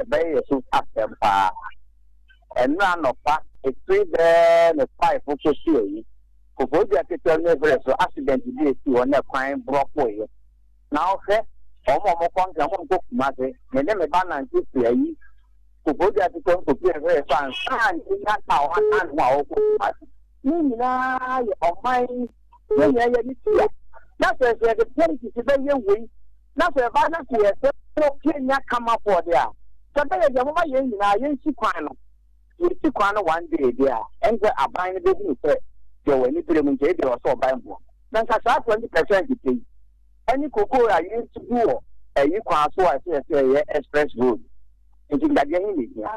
Ɛbɛyɛ yɛn so asɛm paa. Ɛnnora anɔpa, ɛfiri bɛɛ ne five kɔsi awi, Koforidua ketewa mu Evrɛ so accident bi ɛsii hɔ na kwan brɔkoeɛ. Na wohwɛ, wɔn a wɔkɔ Nkran, wɔn a wɔkɔ Kumase, me ne me ba nante firi ayi, Koforidua ketewa mu kɔsi Evrɛ so ansa na yɛnya car one hour ne ho a wɔrekɔ Kumase. Ne nyinaa yɛ ɔman yi yɛn nyinaa yɛ ne tia na sɛ sɛ yɛde politics bɛyɛ wei na sɛ ɛbaa na sɛ yɛsɛ wɔ kenya kama fɔ de a sɛ bɛyɛ deɛ moma yɛn nyinaa yɛnsi kwan no yɛsi kwan no one day deɛ a ɛne sɛ aban no bɛhunu sɛ deɛ wɔ ani berɛ mu nti ɛdeɛ wɔ sɛ ɔban boɔ na nka saa 20 percent pɛ yi ɛne kokoo a yɛsi gu wɔ ɛyi kwan so a ɛsɛ yɛsɛ ɛyɛ express road nti dadeɛ he ne hia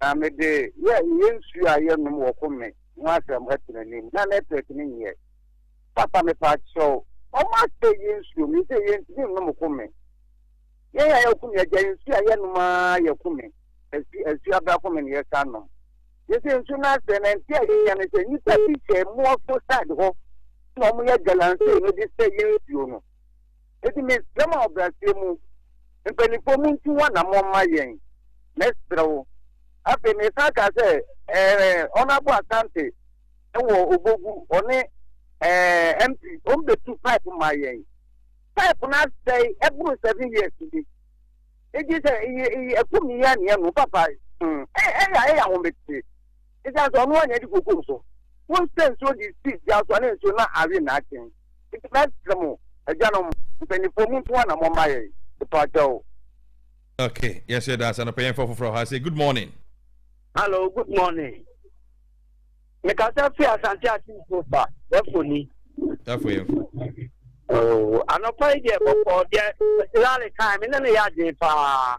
Na mede yɛ yɛ nsuo a yɛ nom wɔ ko me ho asɛm ɛto n'anim na nɛtwɛk no nyɛ papa mepaakyɛw ɔmo asɛe yɛ nsuo me sɛ yɛ ntumi nnom ko me yɛn a yɛ ko me agya nsuo a yɛ nom aa yɛ ko me asu asu abra ko me na yɛ san nom yɛ sɛ nsuo no asɛe na nti a yɛ nya ne sɛ nipa bi hyɛ moa fo side hɔ na ɔmo yɛ galamsey no de sɛ yɛ nsuo no. Enti mesrɛ mo ahobrɛaseɛ mu, mpanimfoɔ montu ho anammɔn mma yɛn. Mɛsrɛ wo. Afei mesan kaa sɛ, Ɛɛ, Honourable Asante wɔ Obogu, ɔne ɛɛ, MP, wɔmmɛtu pipe mmaa yɛn. Pipe no asɛe ɛboro seven years bi. Enti sɛ ɛyɛ ɛyɛ akum yɛn anea no, papa, hmm, ɛyɛ ɛyɛ ahometeɛ. Esiane sɛ ɔno ara na ɛde kuo guu so, wosɛ nsuo de sii dua so a na nsuo no awe nnaakye. Enti mɛsrɛ mo, agyanom, mpanimfoɔ, montu anammɔn mma yɛn, mpakyɛw. Okay, yes, yɛda ase anɔpa yɛmfa foforɔ ha sɛ good morning. Hello, good morning. Mekasa fi Asante Atinfo ba, bɛfo ni. Bɛfo yɛmfo. Oh, anɔpa yi deɛ bɔkɔɔ deɛ Lale kan me ne no yɛ adwene paa.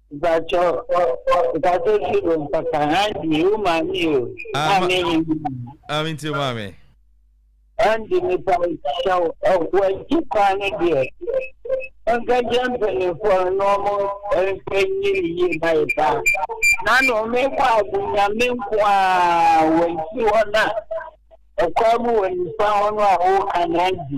Mpakyɛ mpakyɛ ti o mpata Andy o maame yi o maame yi. Maame nti o maame. Andy nipa nkyɛ o wɔgye kwan no deɛ nka gye mpanyinfoɔ na ɔmo nka nyi ne yie na yɛ paa na na ɔmo kɔ abo nyame nko a wɔn ti hɔ na ɛkwan mu wɔ nipa hɔ no a wɔka na Andy.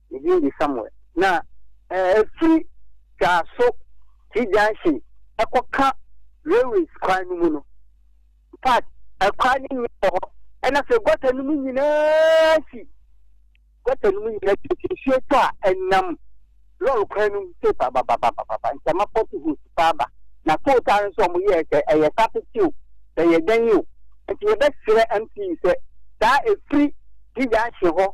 Ne din de Samuel. Na ɛfiri Twaso T-junction kɔka railways kwan no mu no, in fact, ɛkwan no nyɛ wɔ hɔ. Ɛna sɛ gɔta no mu nyinaa si, gɔta no mu nyinaa si, nti nsuo tɔ a ɛnam lɔɔre kwan no mu sɛ babababababa, ntama pɔte hos paa ba. Na tow taa no nso wɔn yɛɛ sɛ ɛyɛ sapete o, sɛ ɛyɛ dɛn o. Nti yɛbɛsrɛ MP sɛ saa ɛfiri T-junction hɔ,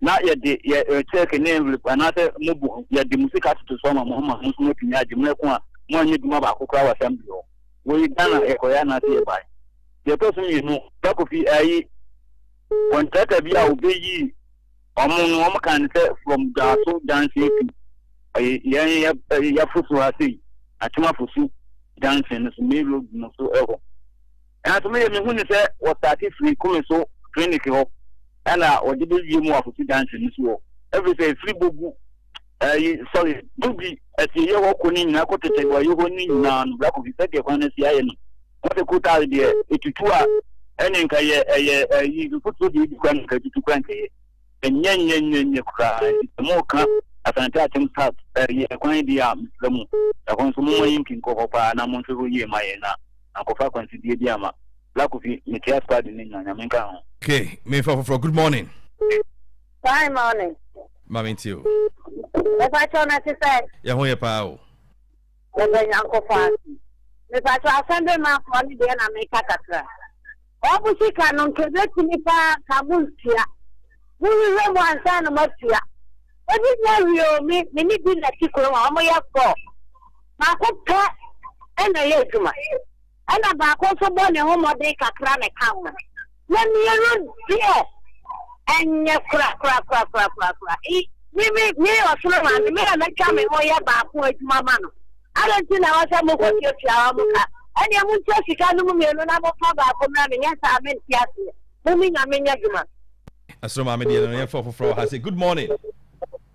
na yɛde yɛ eh, check ne envelope anaasɛ mobo ho, yɛde mo sika toto so ama mo ama mo nso moatumi agye mmerɛ ko a moanyɛ adwuma baako koraa wɔ assembly hɔ. Wei Ghana mm. yɛkɔyɛ anaasɛ yɛbae. Deɛ ɛtɔ so mmienu, Dakofi ayi kɔntrata bi a wɔbɛyii ɔmo no ɔmo kan sɛ from Dwaso junction to eh, yɛn eh, yɛfo so ha sei, Atwomafo so junction no so main road no so ɛhɔ. Nanso me deɛ me hu ne sɛ wɔ starte firi kome so clinic hɔ ɛna wɔde bɛ wie mu wɔ afosu junction no so hɔ ɛfiri sɛ ɛfiri bɔ gu ɛyi sorry gu bi ɛsi ɛyɛ hɔ kɔ ne nyinaa kɔ tete wɔ ɛyɛ hɔ ne nyinaa no brako fi sɛ deɛ kwan no si ayɛ no wɔn sɛ kutaare deɛ ɛtutu a ɛne nka yɛ ɛyɛ ɛyi mfotuo deɛ ɛdi kwan nka ɛtutu kwan nka yɛ Ɛnyɛ nyɛ nyɛ nyɛ koraa nti sɛ moka Asante Akyem South yɛ kwan deɛ a mesrɛ mo ɛhɔ nso momma yɛnki nkɔ hɔ paa na monhwɛ hɔ yie mma yɛn na ankɔfa akwansideɛ bi ama Black Kofi mekyea squad no nyinaa Nyame nka ho. Ok memfa foforɔ good morning. Fine morning. Ma mentie o. Mepakyɛw na ɛte sɛn? Yɛn ho yɛ paa o. Yɛda Nyankopɔn ase. Mepakyɛ asɛnbemafo ne deɛ na meka kakra. Wɔn sika no nka ebetumi paa ka mo ntua. Mohwehwɛ mu ansa na moatua. Ebi nya wie o, me me ne bi na ti kurom a wɔyɛ four. Baako pɛ ɛna ɛyɛ adwuma. ɛna baako nso bɔ ne ho mmɔden kakra na ɛka ho, na mmienu deɛ ɛnyɛ korakorakorakorakorakora. I, me, me, me ɔsoro maame, me na mɛtwa me ho yɛ baako adwuma ma no. Adɛn nti na wɔsɛ mokɔtuatua hɔ mo ka? Ɛneɛ montua sika no mu mmienu na mofa baako mmra me, nyɛ saa mente aseɛ. Mo me nya menyɛ adwuma. Ɛsoro maame deɛ no yɛmfa ɔfoforɔ wɔ ha sɛ good morning.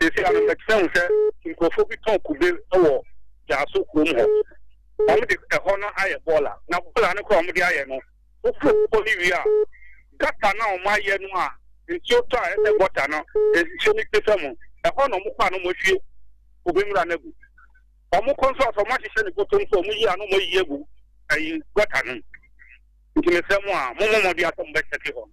Seesei ano mɛtena hu sɛ nkurɔfoɔ bi tɔn kube wɔ Gyaso kurom hɔ. Wɔde ɛhɔ no ayɛ bɔɔla, na bɔɔla no koraa a wɔde ayɛ no, woforo bepɔ no wie a, gata no a wɔayɛ no a nsuo tɔ a ɛyɛ sɛ gɔta no, nsuo no twe fam no, ɛhɔ na wɔkɔ a na wɔahwie kube nwura no agu. Wɔkɔ nso a, sɛ wɔahyehyɛ no bɔtɔ nso a, wɔyi a na wɔayi agu ayi gɔta no mu. Nti mesrɛ mo a, mommɔ mmɔden a sɛ mobɛkyɛke hɔ no.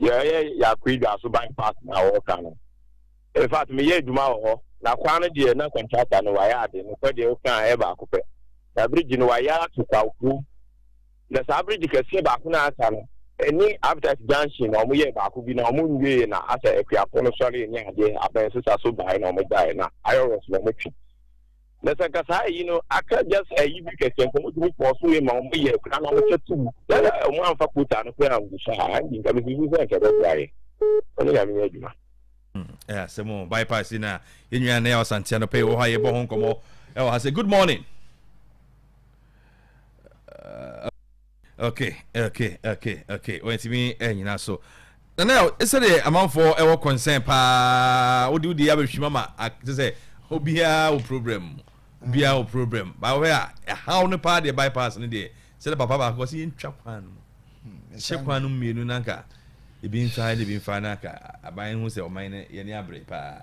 Deɛ ɛyɛ Yakuiga so bypass no a wɔreka no, in fact meyɛ adwuma wɔ hɔ na kwan no deɛ na contractor no wayɛ ade, nokorɛ deɛ woka a ɛyɛ baako pɛ. Na bridge no wayɛ ato Kwakuo, na saa bridge kɛseɛ baako no a aka no ɛne Aptite junction na wɔyɛɛ baako bi na wɔnwieɛ na asɛ Akuafoɔ no sɔreɛ ne adeɛ abɛn sesaso baeɛ na wɔgyaeɛ na ayɛ worse na wɔtwe. Na sɛ nka saa ayi no aka just ayi bi kɛkɛ nka ɔmo tumi kɔɔ so yɛ ma ɔmo yɛ kura na ɔmo hyɛ tum na ɔmo anfa kota no kura angu so a ɛnde nka bisi bi sɛ nka ɛbɛ boa yɛ ɔne nyame yɛ adwuma. Hmm, ɛyɛ asɛm o bypass yi na yɛn nyinaa na yɛ ɔsantea no pɛ wɔ hɔ a yɛbɔ ho nkɔmɔ ɛwɔ ha sɛ good morning. Uh, ok ok ok ok wantumi anyina so nana sɛdeɛ amanfoɔ ɛwɔ concern paa wode wode abɛhwim ama te sɛ obiara wɔ problem obiara wɔ problem baawɛ a ɛhaw no paa deɛ bypass no deɛ sɛdeɛ papa baako sɛ yɛntwa kwan no mu hyɛ kwan no mmienu nanka ebi mfa ne bi mfa nanka aban ho sɛ ɔman no yɛne abere paa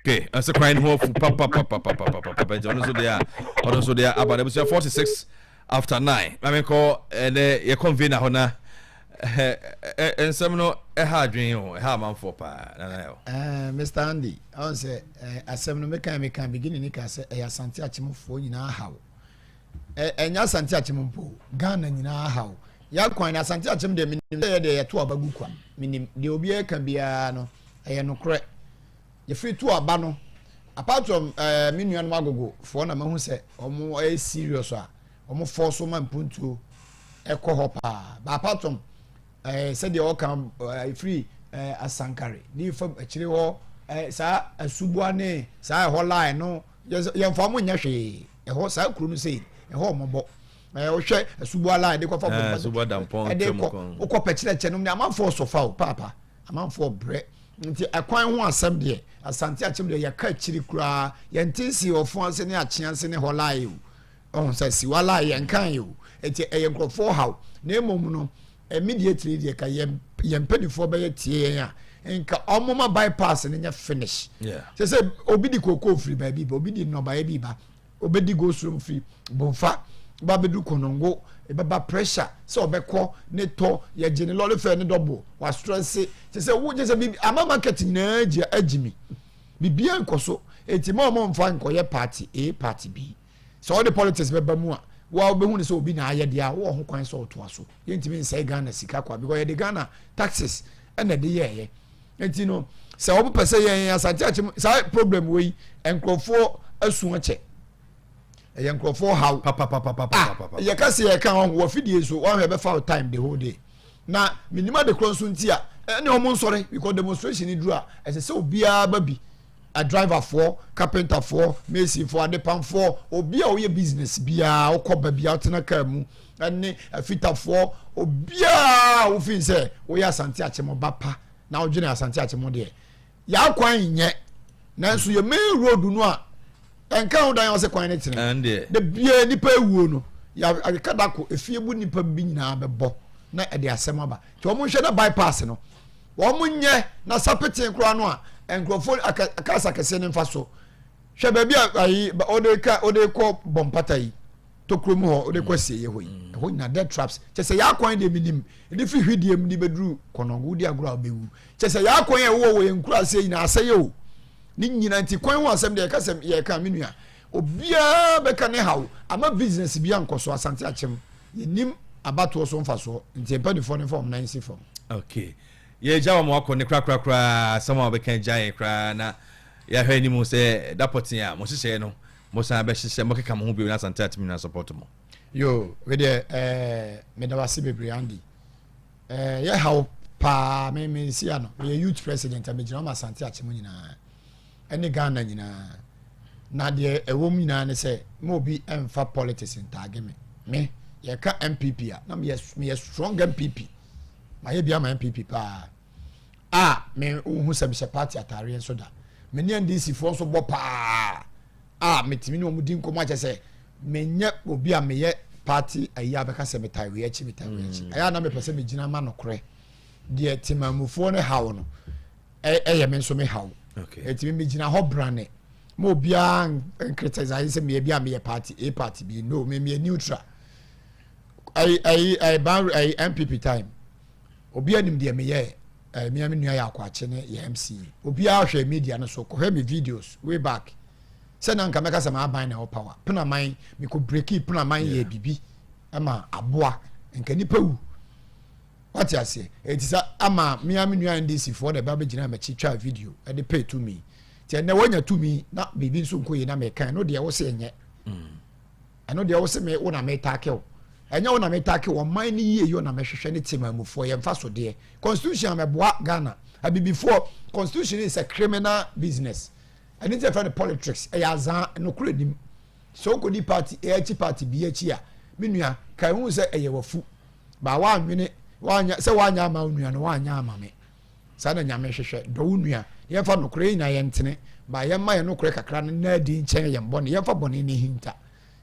okay ɛsɛ kwan no ho afu papapapapapapa nti ɔno nso deɛ a ɔno nso deɛ aba no abusua 46 after 9 na menkɔ ɛnɛ yɛ convener hɔ na nsɛm no ɛha adwene o ɛha amanfoɔ paa nana yɛ o mr andy ɔn sɛ asɛm no meka meka beginning ne ka sɛ ɛyɛ asante akyemfoɔ nyinaa haw ɛnyɛ asante akyem mpo ghana nyinaa haw yɛakwan no asante akyem deɛ menim sɛ yɛ deɛ yɛto aba gu kwa menim deɛ obiara ka biara no ɛyɛ nokorɛ Yɛfiri tu aba no apart from eh, me nuanom agogo foɔ na mahu sɛ wɔn ɛyɛ serious a wɔn fɔɔ so ma mpuntuo ɛkɔ hɔ paa ba apart from eh, sɛdeɛ ɔka eh, ɛfiri eh, asankare ne fam akyire hɔ eh, saa asuboa ne saa ɛhɔ line no yɛmfa wɔn nyɛ hwee ɛhɔ saa kuro no sei ɛhɔ ɔmɔbɔ eh, wohwɛ asuboa line de kɔfa eh, ɛde kɔ wokɔ pɛkyerɛkyɛ nom ne amanfoɔ so fa o paapa Amanfoɔ brɛ nti ɛkwan ho asɛm deɛ Asante akyem deɛ yɛka akyiri koraa yɛnte nsi ɔfo ase ne akyea ase ne hɔ lae o ɔho sɛ siwa lae yɛnkan yɛ o ɛti ɛyɛ nkurɔfoɔ haw na mmom no immediately deɛ ka yɛn yɛn mpanimfoɔ bɛyɛ tie yɛn a nka ɔmoma bypass no nyɛ finish sɛ sɛ obi di kookoo firi baabi ba obi di nnɔbaeɛ bi ba obedi go slow fi bonfa ba bedu konongo ebɛba pressure sɛ ɔbɛkɔ ne tɔ yɛgye ne lɔre fɛ ne dɔbo wastrɛse te sɛ wogye sɛ biribi ama market nyinaa gye agye mi biribiara nkɔ so eti ma ɔmo mfa nkɔyɛ party a party bi sɛ ɔde politics bɛba mu a wo a wobɛhu ne sɛ obi na ayɛ deɛ a wowɔ ho kwan sɛ ɔtoa so. yɛntumi nsɛe ghana sika kwa because yɛde ghana taxes ɛna ɛde yɛɛyɛ nti no sɛ wɔpɛ sɛ yɛn asante akyɛ mu saa problem wei nkurɔfoɔ asua kyɛ ɛyɛ nkurɔfoɔ haw ah, yɛka sɛ yɛka wɔn wɔ fidie so wɔn ahwɛ bɛfa time the whole day na menim ade korɔ nso nti a ɛne wɔn nsɔre because demonstration duru a ɛsɛ sɛ obiara ba bi Adriverfoɔ, kapentafoɔ, masonfoɔ, adepamfoɔ, obi a ɔyɛ business biara, wokɔ ba biara wotena kaa mu, ɛne afitafoɔ, obiara wofin sɛ woyɛ asante akyem ba pa na wodwene asante akyem deɛ yɛakwan nyɛ nanso yɛ main road no a ɛnka ho dan ɔsɛ kwan ne tene da biara nipa awuo no yɛaka da ko efie bu nipa bi nyinaa bɛbɔ na ɛde asɛm aba nti wɔn nhwɛ na bypass no Wɔn nyɛ na sa petee koraa no a nkurɔfoɔ aka aka asakɛseɛ no mfa so. Hwɛ baabi a ayi ba ɔde ka ɔde kɔ bɔ mpata yi tokuro mu hɔ ɔde kɔ asieɛ hɔ yi mm. ɛhɔ nyinaa dead traps kyɛ sɛ yɛ akwan deɛ menim ɛde firi hwideɛ mu de bɛduru kɔnɔngo wodi agorɔ a wobɛwu kyɛ sɛ yɛ akwan a ɛwowɔ wɔ yɛn nkuro aseɛ nyinaa asɛyɛ o ne nyinaa nti kwan ho asɛm deɛ yɛka sɛm yɛka me nua Obiara bɛka ne haw ama business bi ankɔ so asante akyem yɛnim abatoɔ so mfasoɔ nti mpanimfoɔ no mfa wɔn nan nsi fam. okay yɛgya wɔn akɔ ne korakora koraa asɛm a wɔbɛka gya yɛn koraa na yɛahwɛ anim sɛ da pɔtee a mo hyehyɛeɛ no mo san bɛhyehyɛ mo keka mo ho bio na asante akyem nyinaa support mo. yo wedeɛ ɛɛ eh, meda wase bebree Andy ɛɛ eh, yɛ haw paa me me nsia no meyɛ youth president a megyina wɔn asante akyem nyinaa. ɛne Ghana nyinaa na deɛ ɛwɔ mu nyinaa ne sɛ ma obi ɛmfa politics ntaage me me yɛka MPP a na meyɛ meyɛ strong MPP mayɛ bi ama MPP paa a me wohu sɛ mehyɛ party ataareɛ nso da me ne NDC foɔ nso bɔ paa a metumi ne wɔn di nkɔmɔ akyɛ sɛ menyɛ obi a meyɛ party ayi abɛka sɛ metae wei akyi metae wei akyi mm. ɛyɛ a na mepɛ sɛ megyina ma nokorɛ deɛ temamufoɔ no haw no ɛyɛ me nso me haw nti me megyina hɔ brane ma obiara nkritise ayɛ sɛ meyɛ bi a meyɛ party a party bi no me meyɛ neutral ɛyi ɛyi ɛyi ban ɛyi npp time obi anim deɛ meyɛ ɛɛ mmea mi nua yɛ akɔakye ne yɛ mc obiara hwɛ media no so kɔhwɛ mi videos way back sɛ na nka mɛka sɛ maa ban na ɛwɔ power penaman mekɔ breki penaman yɛ bibi ɛma aboa nka nipa wu. wate aseɛ ɛti sa ama mea me nua ndc foɔ na ɛba bɛgyina m'akyi twa video ɛde pɛ tumi nti ɛnɛ wɔanya tumi na biribi nso nkɔ yi na meka ɛno deɛ wo sɛ ɛnyɛ mm. ɛno deɛ wo sɛ me wo na metaake wo ɛnyɛ wo na metaake wo ɔman no yie yɛ na mɛhwehwɛ ne tema mufoɔ yɛmfa so deɛ constitution a mɛboa ghana abibifoɔ constitution is a criminal business ɛne nti ɛfɛ no politics ɛyɛ azan nokorɛ nim sɛ wokɔdi party ɛyɛ akyi party bi akyi a me nua ka ɛhu sɛ ɛyɛ wafu ba woanwene woanyɛ sɛ woanyɛ ama wo nua no woanyɛ ama me saa na nyame hwehwɛ dɔ wo nua yɛmfa nokorɛ yɛ nyinaa yɛntene ba yɛmma yɛ nokorɛ kakra no na adi nkyɛn yɛn bɔne yɛmfa bɔne no hinta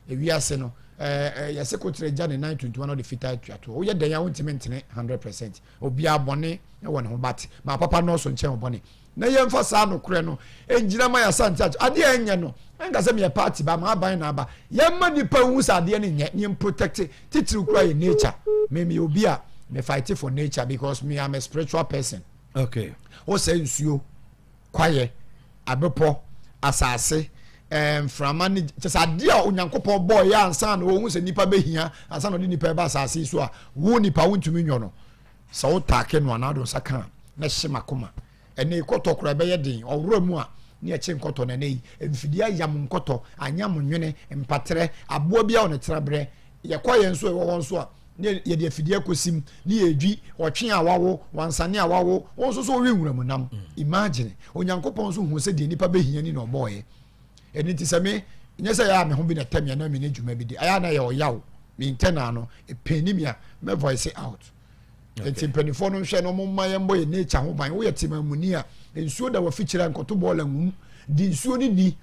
ewiase no ɛɛ yɛse kotere gya ne nan tuntum na ɔde fitaa atua toɔ woyɛ dɛn a wontumi ntene 100 percent obiara bɔne wɔ ne ho bate ma papa nɔɔso nkyɛn ɔbɔne Na yɛmfa saa nokorɛ no ngyina ma yɛasante ato adeɛ a ɛnyɛ no nka sɛ meyɛ party ba, m'aban na aba. Yɛmma nnipa nhu sɛ adeɛ no nyɛ, neɛ mprotɛkte titiriw koraa yɛ nature. Me meyɛ obi a me fight for nature because me am a spiritual person. Okay. Wo sɛ nsuo, kwaeɛ, abepɔ, asase, eh, mframa ne kyɛ sɛ adeɛ a Onyankopɔn bɔɔ yɛ ansa na ɔhu sɛ nipa bɛhia ansa na ɔde nipa ɛba asase yi so a wo nipa wontumi nyɔ no. Sɛ wo taake no a na ado nsa ka a, na ɛhye m'akoma. Ɛnɛ yi kɔtɔ koraa ɛbɛyɛ den, ɔwora mu a na ɛkye nkɔtɔ na ɛnɛ yi mfidie ayam nkɔtɔ, anyam nwene, mpaterɛ, aboa biara wɔ ne tenaberɛ. Yɛkɔ yɛn nso a ɛwɔ hɔ nso a na yɛde afidie akɔsim ne yɛredwi ɔtwe a wawo, wansane a wawo, wo nso so wowe nwura mu nam. Imagine! Onyankopɔn nso huu sɛ deɛ nnipa bɛhia ni na ɔbɔɔeɛ. ɛno nti sɛ me nyɛ sɛ yɛ a me ho bi na tɛm yɛ na me ne dwuma bi di ayɛ na yɛ ɔyaw me internal no ɛpɛn ni mi a mɛ voice out nti mpanimfoɔ no nhwɛ no ɔmo mma yɛn bɔ yɛ nature ho ban woyɛ tema mu ni a nsuo da wafikyerɛ nkɔto bɔɔla nwum di nsuo ni ni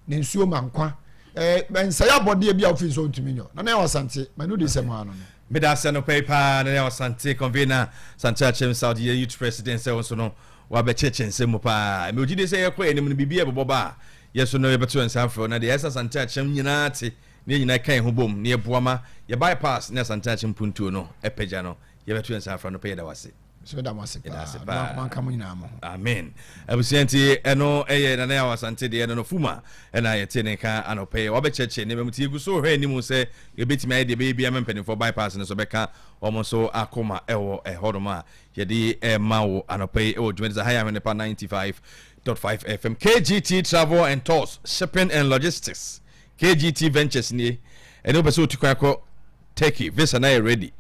na nsuo ma nkwa ɛɛ eh, nsɛyɛ abɔdeɛ bi a wofi nsuo ntumi nyɔ na na yɛ ɔsante ma no di sɛm ano no meda asɛ no pɛi paa na yɛ ɔsante convener sante akyɛm south yɛ youth president sɛ wo nso no Wabɛkyekyɛ nsɛm mu paa. Mewɔ gyidie sɛ yɛkɔ yɛn anim no, biribi a ɛbɛbɔ ba a, yɛn nso nnɛ yɛbɛto yɛn nsa afrɛ wo na deɛ ɛsɛ Asante Akyem nyinaa te na yɛn nyinaa ɛka yɛn ho bom na yɛboa ma yɛn bypass ne Asante Akyem mpuntuo no apagya no, yɛbɛto yɛn nsa afrɛ anɔpa yi. Yɛda wo ase. Nso yɛda mo ase paa. Ɔno akoma nka mo nyinaa mo ho. Amen. Abusua nti ɛno ɛyɛ Nana Yaw Asante deɛ no no Fuma ɛna yɛte ne nka anɔpa yi. Wabɛkyerɛkyerɛ nneɛma mu ti yɛgu so hwɛ anim sɛ yɛbɛtumi ayɛ deɛ ɛbɛyɛ biara ma mpanimfoɔ bypass no nso bɛka wɔn nso akoma ɛwɔ ɛhɔnom a Yɛde rema wo anɔpa yi wɔ dwumadisa ha yɛ Ahwenepa 95.5 FM. KGT Travel and Tours, Shipping and Logistics. KGT Ventures nie. Ɛne wopɛ sɛ wotu kwan kɔ Turkey, visa na yɛ ready.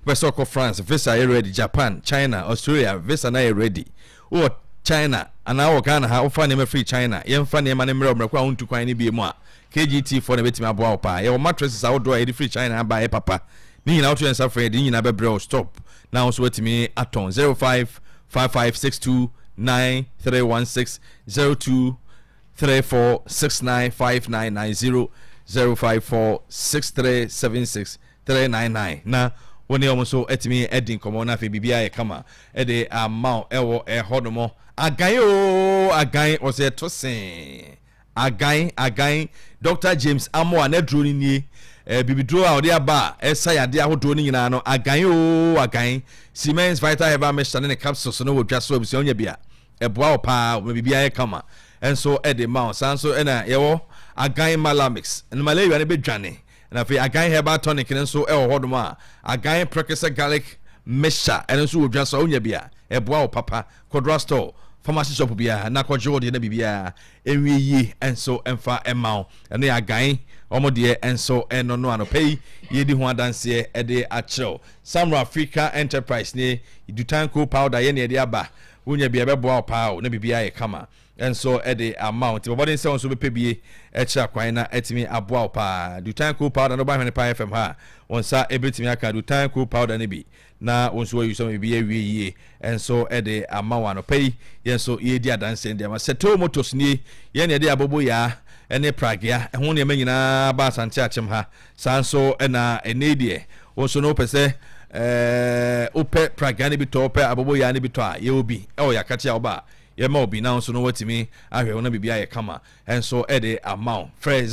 Wopɛ sɛ ɔkɔ France, visa yɛ ready. Japan, China, Australia, visa na yɛ ready. Wowɔ China anaa wɔ Ghana ha, wofa nneɛma firi China, yɛmfa nneɛma no mmerɛ wo mmerɛ kɔ a wontu kwan no bie mu a, KGT foɔ na ɛbɛtumi aboa wo paa. Yɛwɔ mattresses ahodoɔ a yɛde firi China aba a ɛyɛ papa. Ne nyinaa woto yɛn nsa frɛ a yɛde ne nyinaa bɛbrɛ wo stop na wo nso woatumi atɔn. 0555629316 0234695990 0546376399 na wo ne wɔn nso atumi adi nkɔmmɔ na afei biribiara yɛ kama ɛde ama wo ɛwɔ ɛhɔ nom agan oo agan wɔsɛ ɛto see Agan, Agan, Dɔkta James Amoah n'aduro no nie. Eh, bibiduro a ɔde aba a ɛsa yadeɛ ahodoɔ no nyinaa no, agan oo, agan. Siemens Vital Herbal Mixture ne ne capsules no wɔ dwa so abusua wonya bi a, ɛboa wo paa, ɔma biribiara yɛ kama nso de ma wo. Saa nso na yɛwɔ agan Malamix, malaria no bɛdwane. Na afei agan herbal tonic no nso wɔ hɔnom a agan prɛkɛsɛ garlic mixture ɛno nso wɔ dwa so a wonya bi a ɛboa wo papa. Kɔdora store, pharmacy shop biara na kɔgye wo deɛ na biribiara ɛnwie yie nso mfa mma wo. Ɛno yɛ agan wɔn deɛ nso ɛno no anɔpa yi yɛdi ho adanseɛ ɛde akyerɛ wo. Samro Africa Enterprise nie, dutan coal powder yɛne ɛde aba. Wonya bi a ɛbɛboa wo paa o na biribiara yɛ kama. nso de ama wo. Nti bɔ mmɔden sɛ wo nso wobɛpɛ bi akyira kwan na atumi aboa wo paa. Dutan Cool Powder no ba Hwene Paa FM ha a, wo nsa bɛtumi aka Dutan Cool Powder no bi na wo nso woayi sɔma biribi awie yie nso de ama wo. Anɔpa yi, yɛn nso yɛredi adanseɛ no de ama Seto Motors nie. Yɛn na yɛde aboboyaa ne pragea ɛho nneɛma nyinaa ba Asante Akyem ha. Saa nso na ɛnnɛ yi deɛ, wo nso no wopɛ sɛ ɛɛ wopɛ pragea no bi tɔ, wopɛ aboboyaa no bi tɔ a, yɛwɔ bi ɛwɔ yɛn akate a woba a, Yɛma obi na nso no watumi ahwɛ wo na biribi ayɛ kama nso de ama wo. Frɛ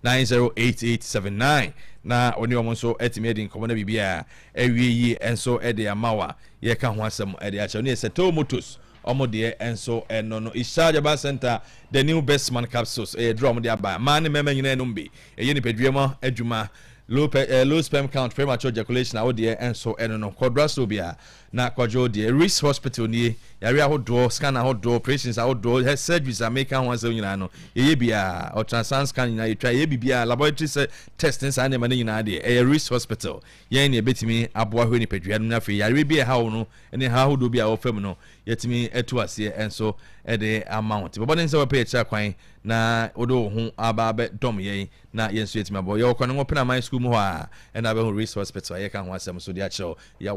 0595908879 na wo ne wɔn nso atumi adi nkɔmmɔ na biribi a awie yie nso de ama wo a yɛka ho asɛm de akyerɛ wo. Ne yɛ Settle Motors, wɔn deɛ nso no no. Isha Jaba Center, The New Best Man Capsules, ɛyɛ aduro a wɔde aba. Mmaa ne mmarima nyinaa nom bi. Ɛyɛ nipadua mu adwuma. Low, pe, eh, low sperm count, premature ejaculation a wo deɛ nso no no. Kɔ drugstore biara. Na kwadwo deɛ Reese hospital nie, yareɛ ahodoɔ, scan ahodoɔ, operations ahodoɔ, hɛ surgeries a meka ho asɛm nyinaa no yɛyɛ biaa, ultrasound scan nyinaa yɛtwa, yɛyɛ biribiaa, laboratory sɛ test ne saa nneɛma no nyinaa deɛ ɛyɛ Reese hospital, yɛn na yɛbɛtumi aboa hwɛ nipadua no mu na afei yareɛ bi a ɛha wo no ne haw ahodoɔ bi a ɛwɔ fam no yɛatumi atu aseɛ nso de ama wo. Nti bɔ mmɔden sɛ wobɛpɛ yɛn akyira kwan na wode wo ho aba abɛdɔm yɛn na yɛn nso yɛatumi aboa wo. Yɛwɔ Kwanago Penaman School mu hɔ a ɛna wobɛhu Reese hospital a yɛka ho asɛm nso de akyerɛ wo. Yɛ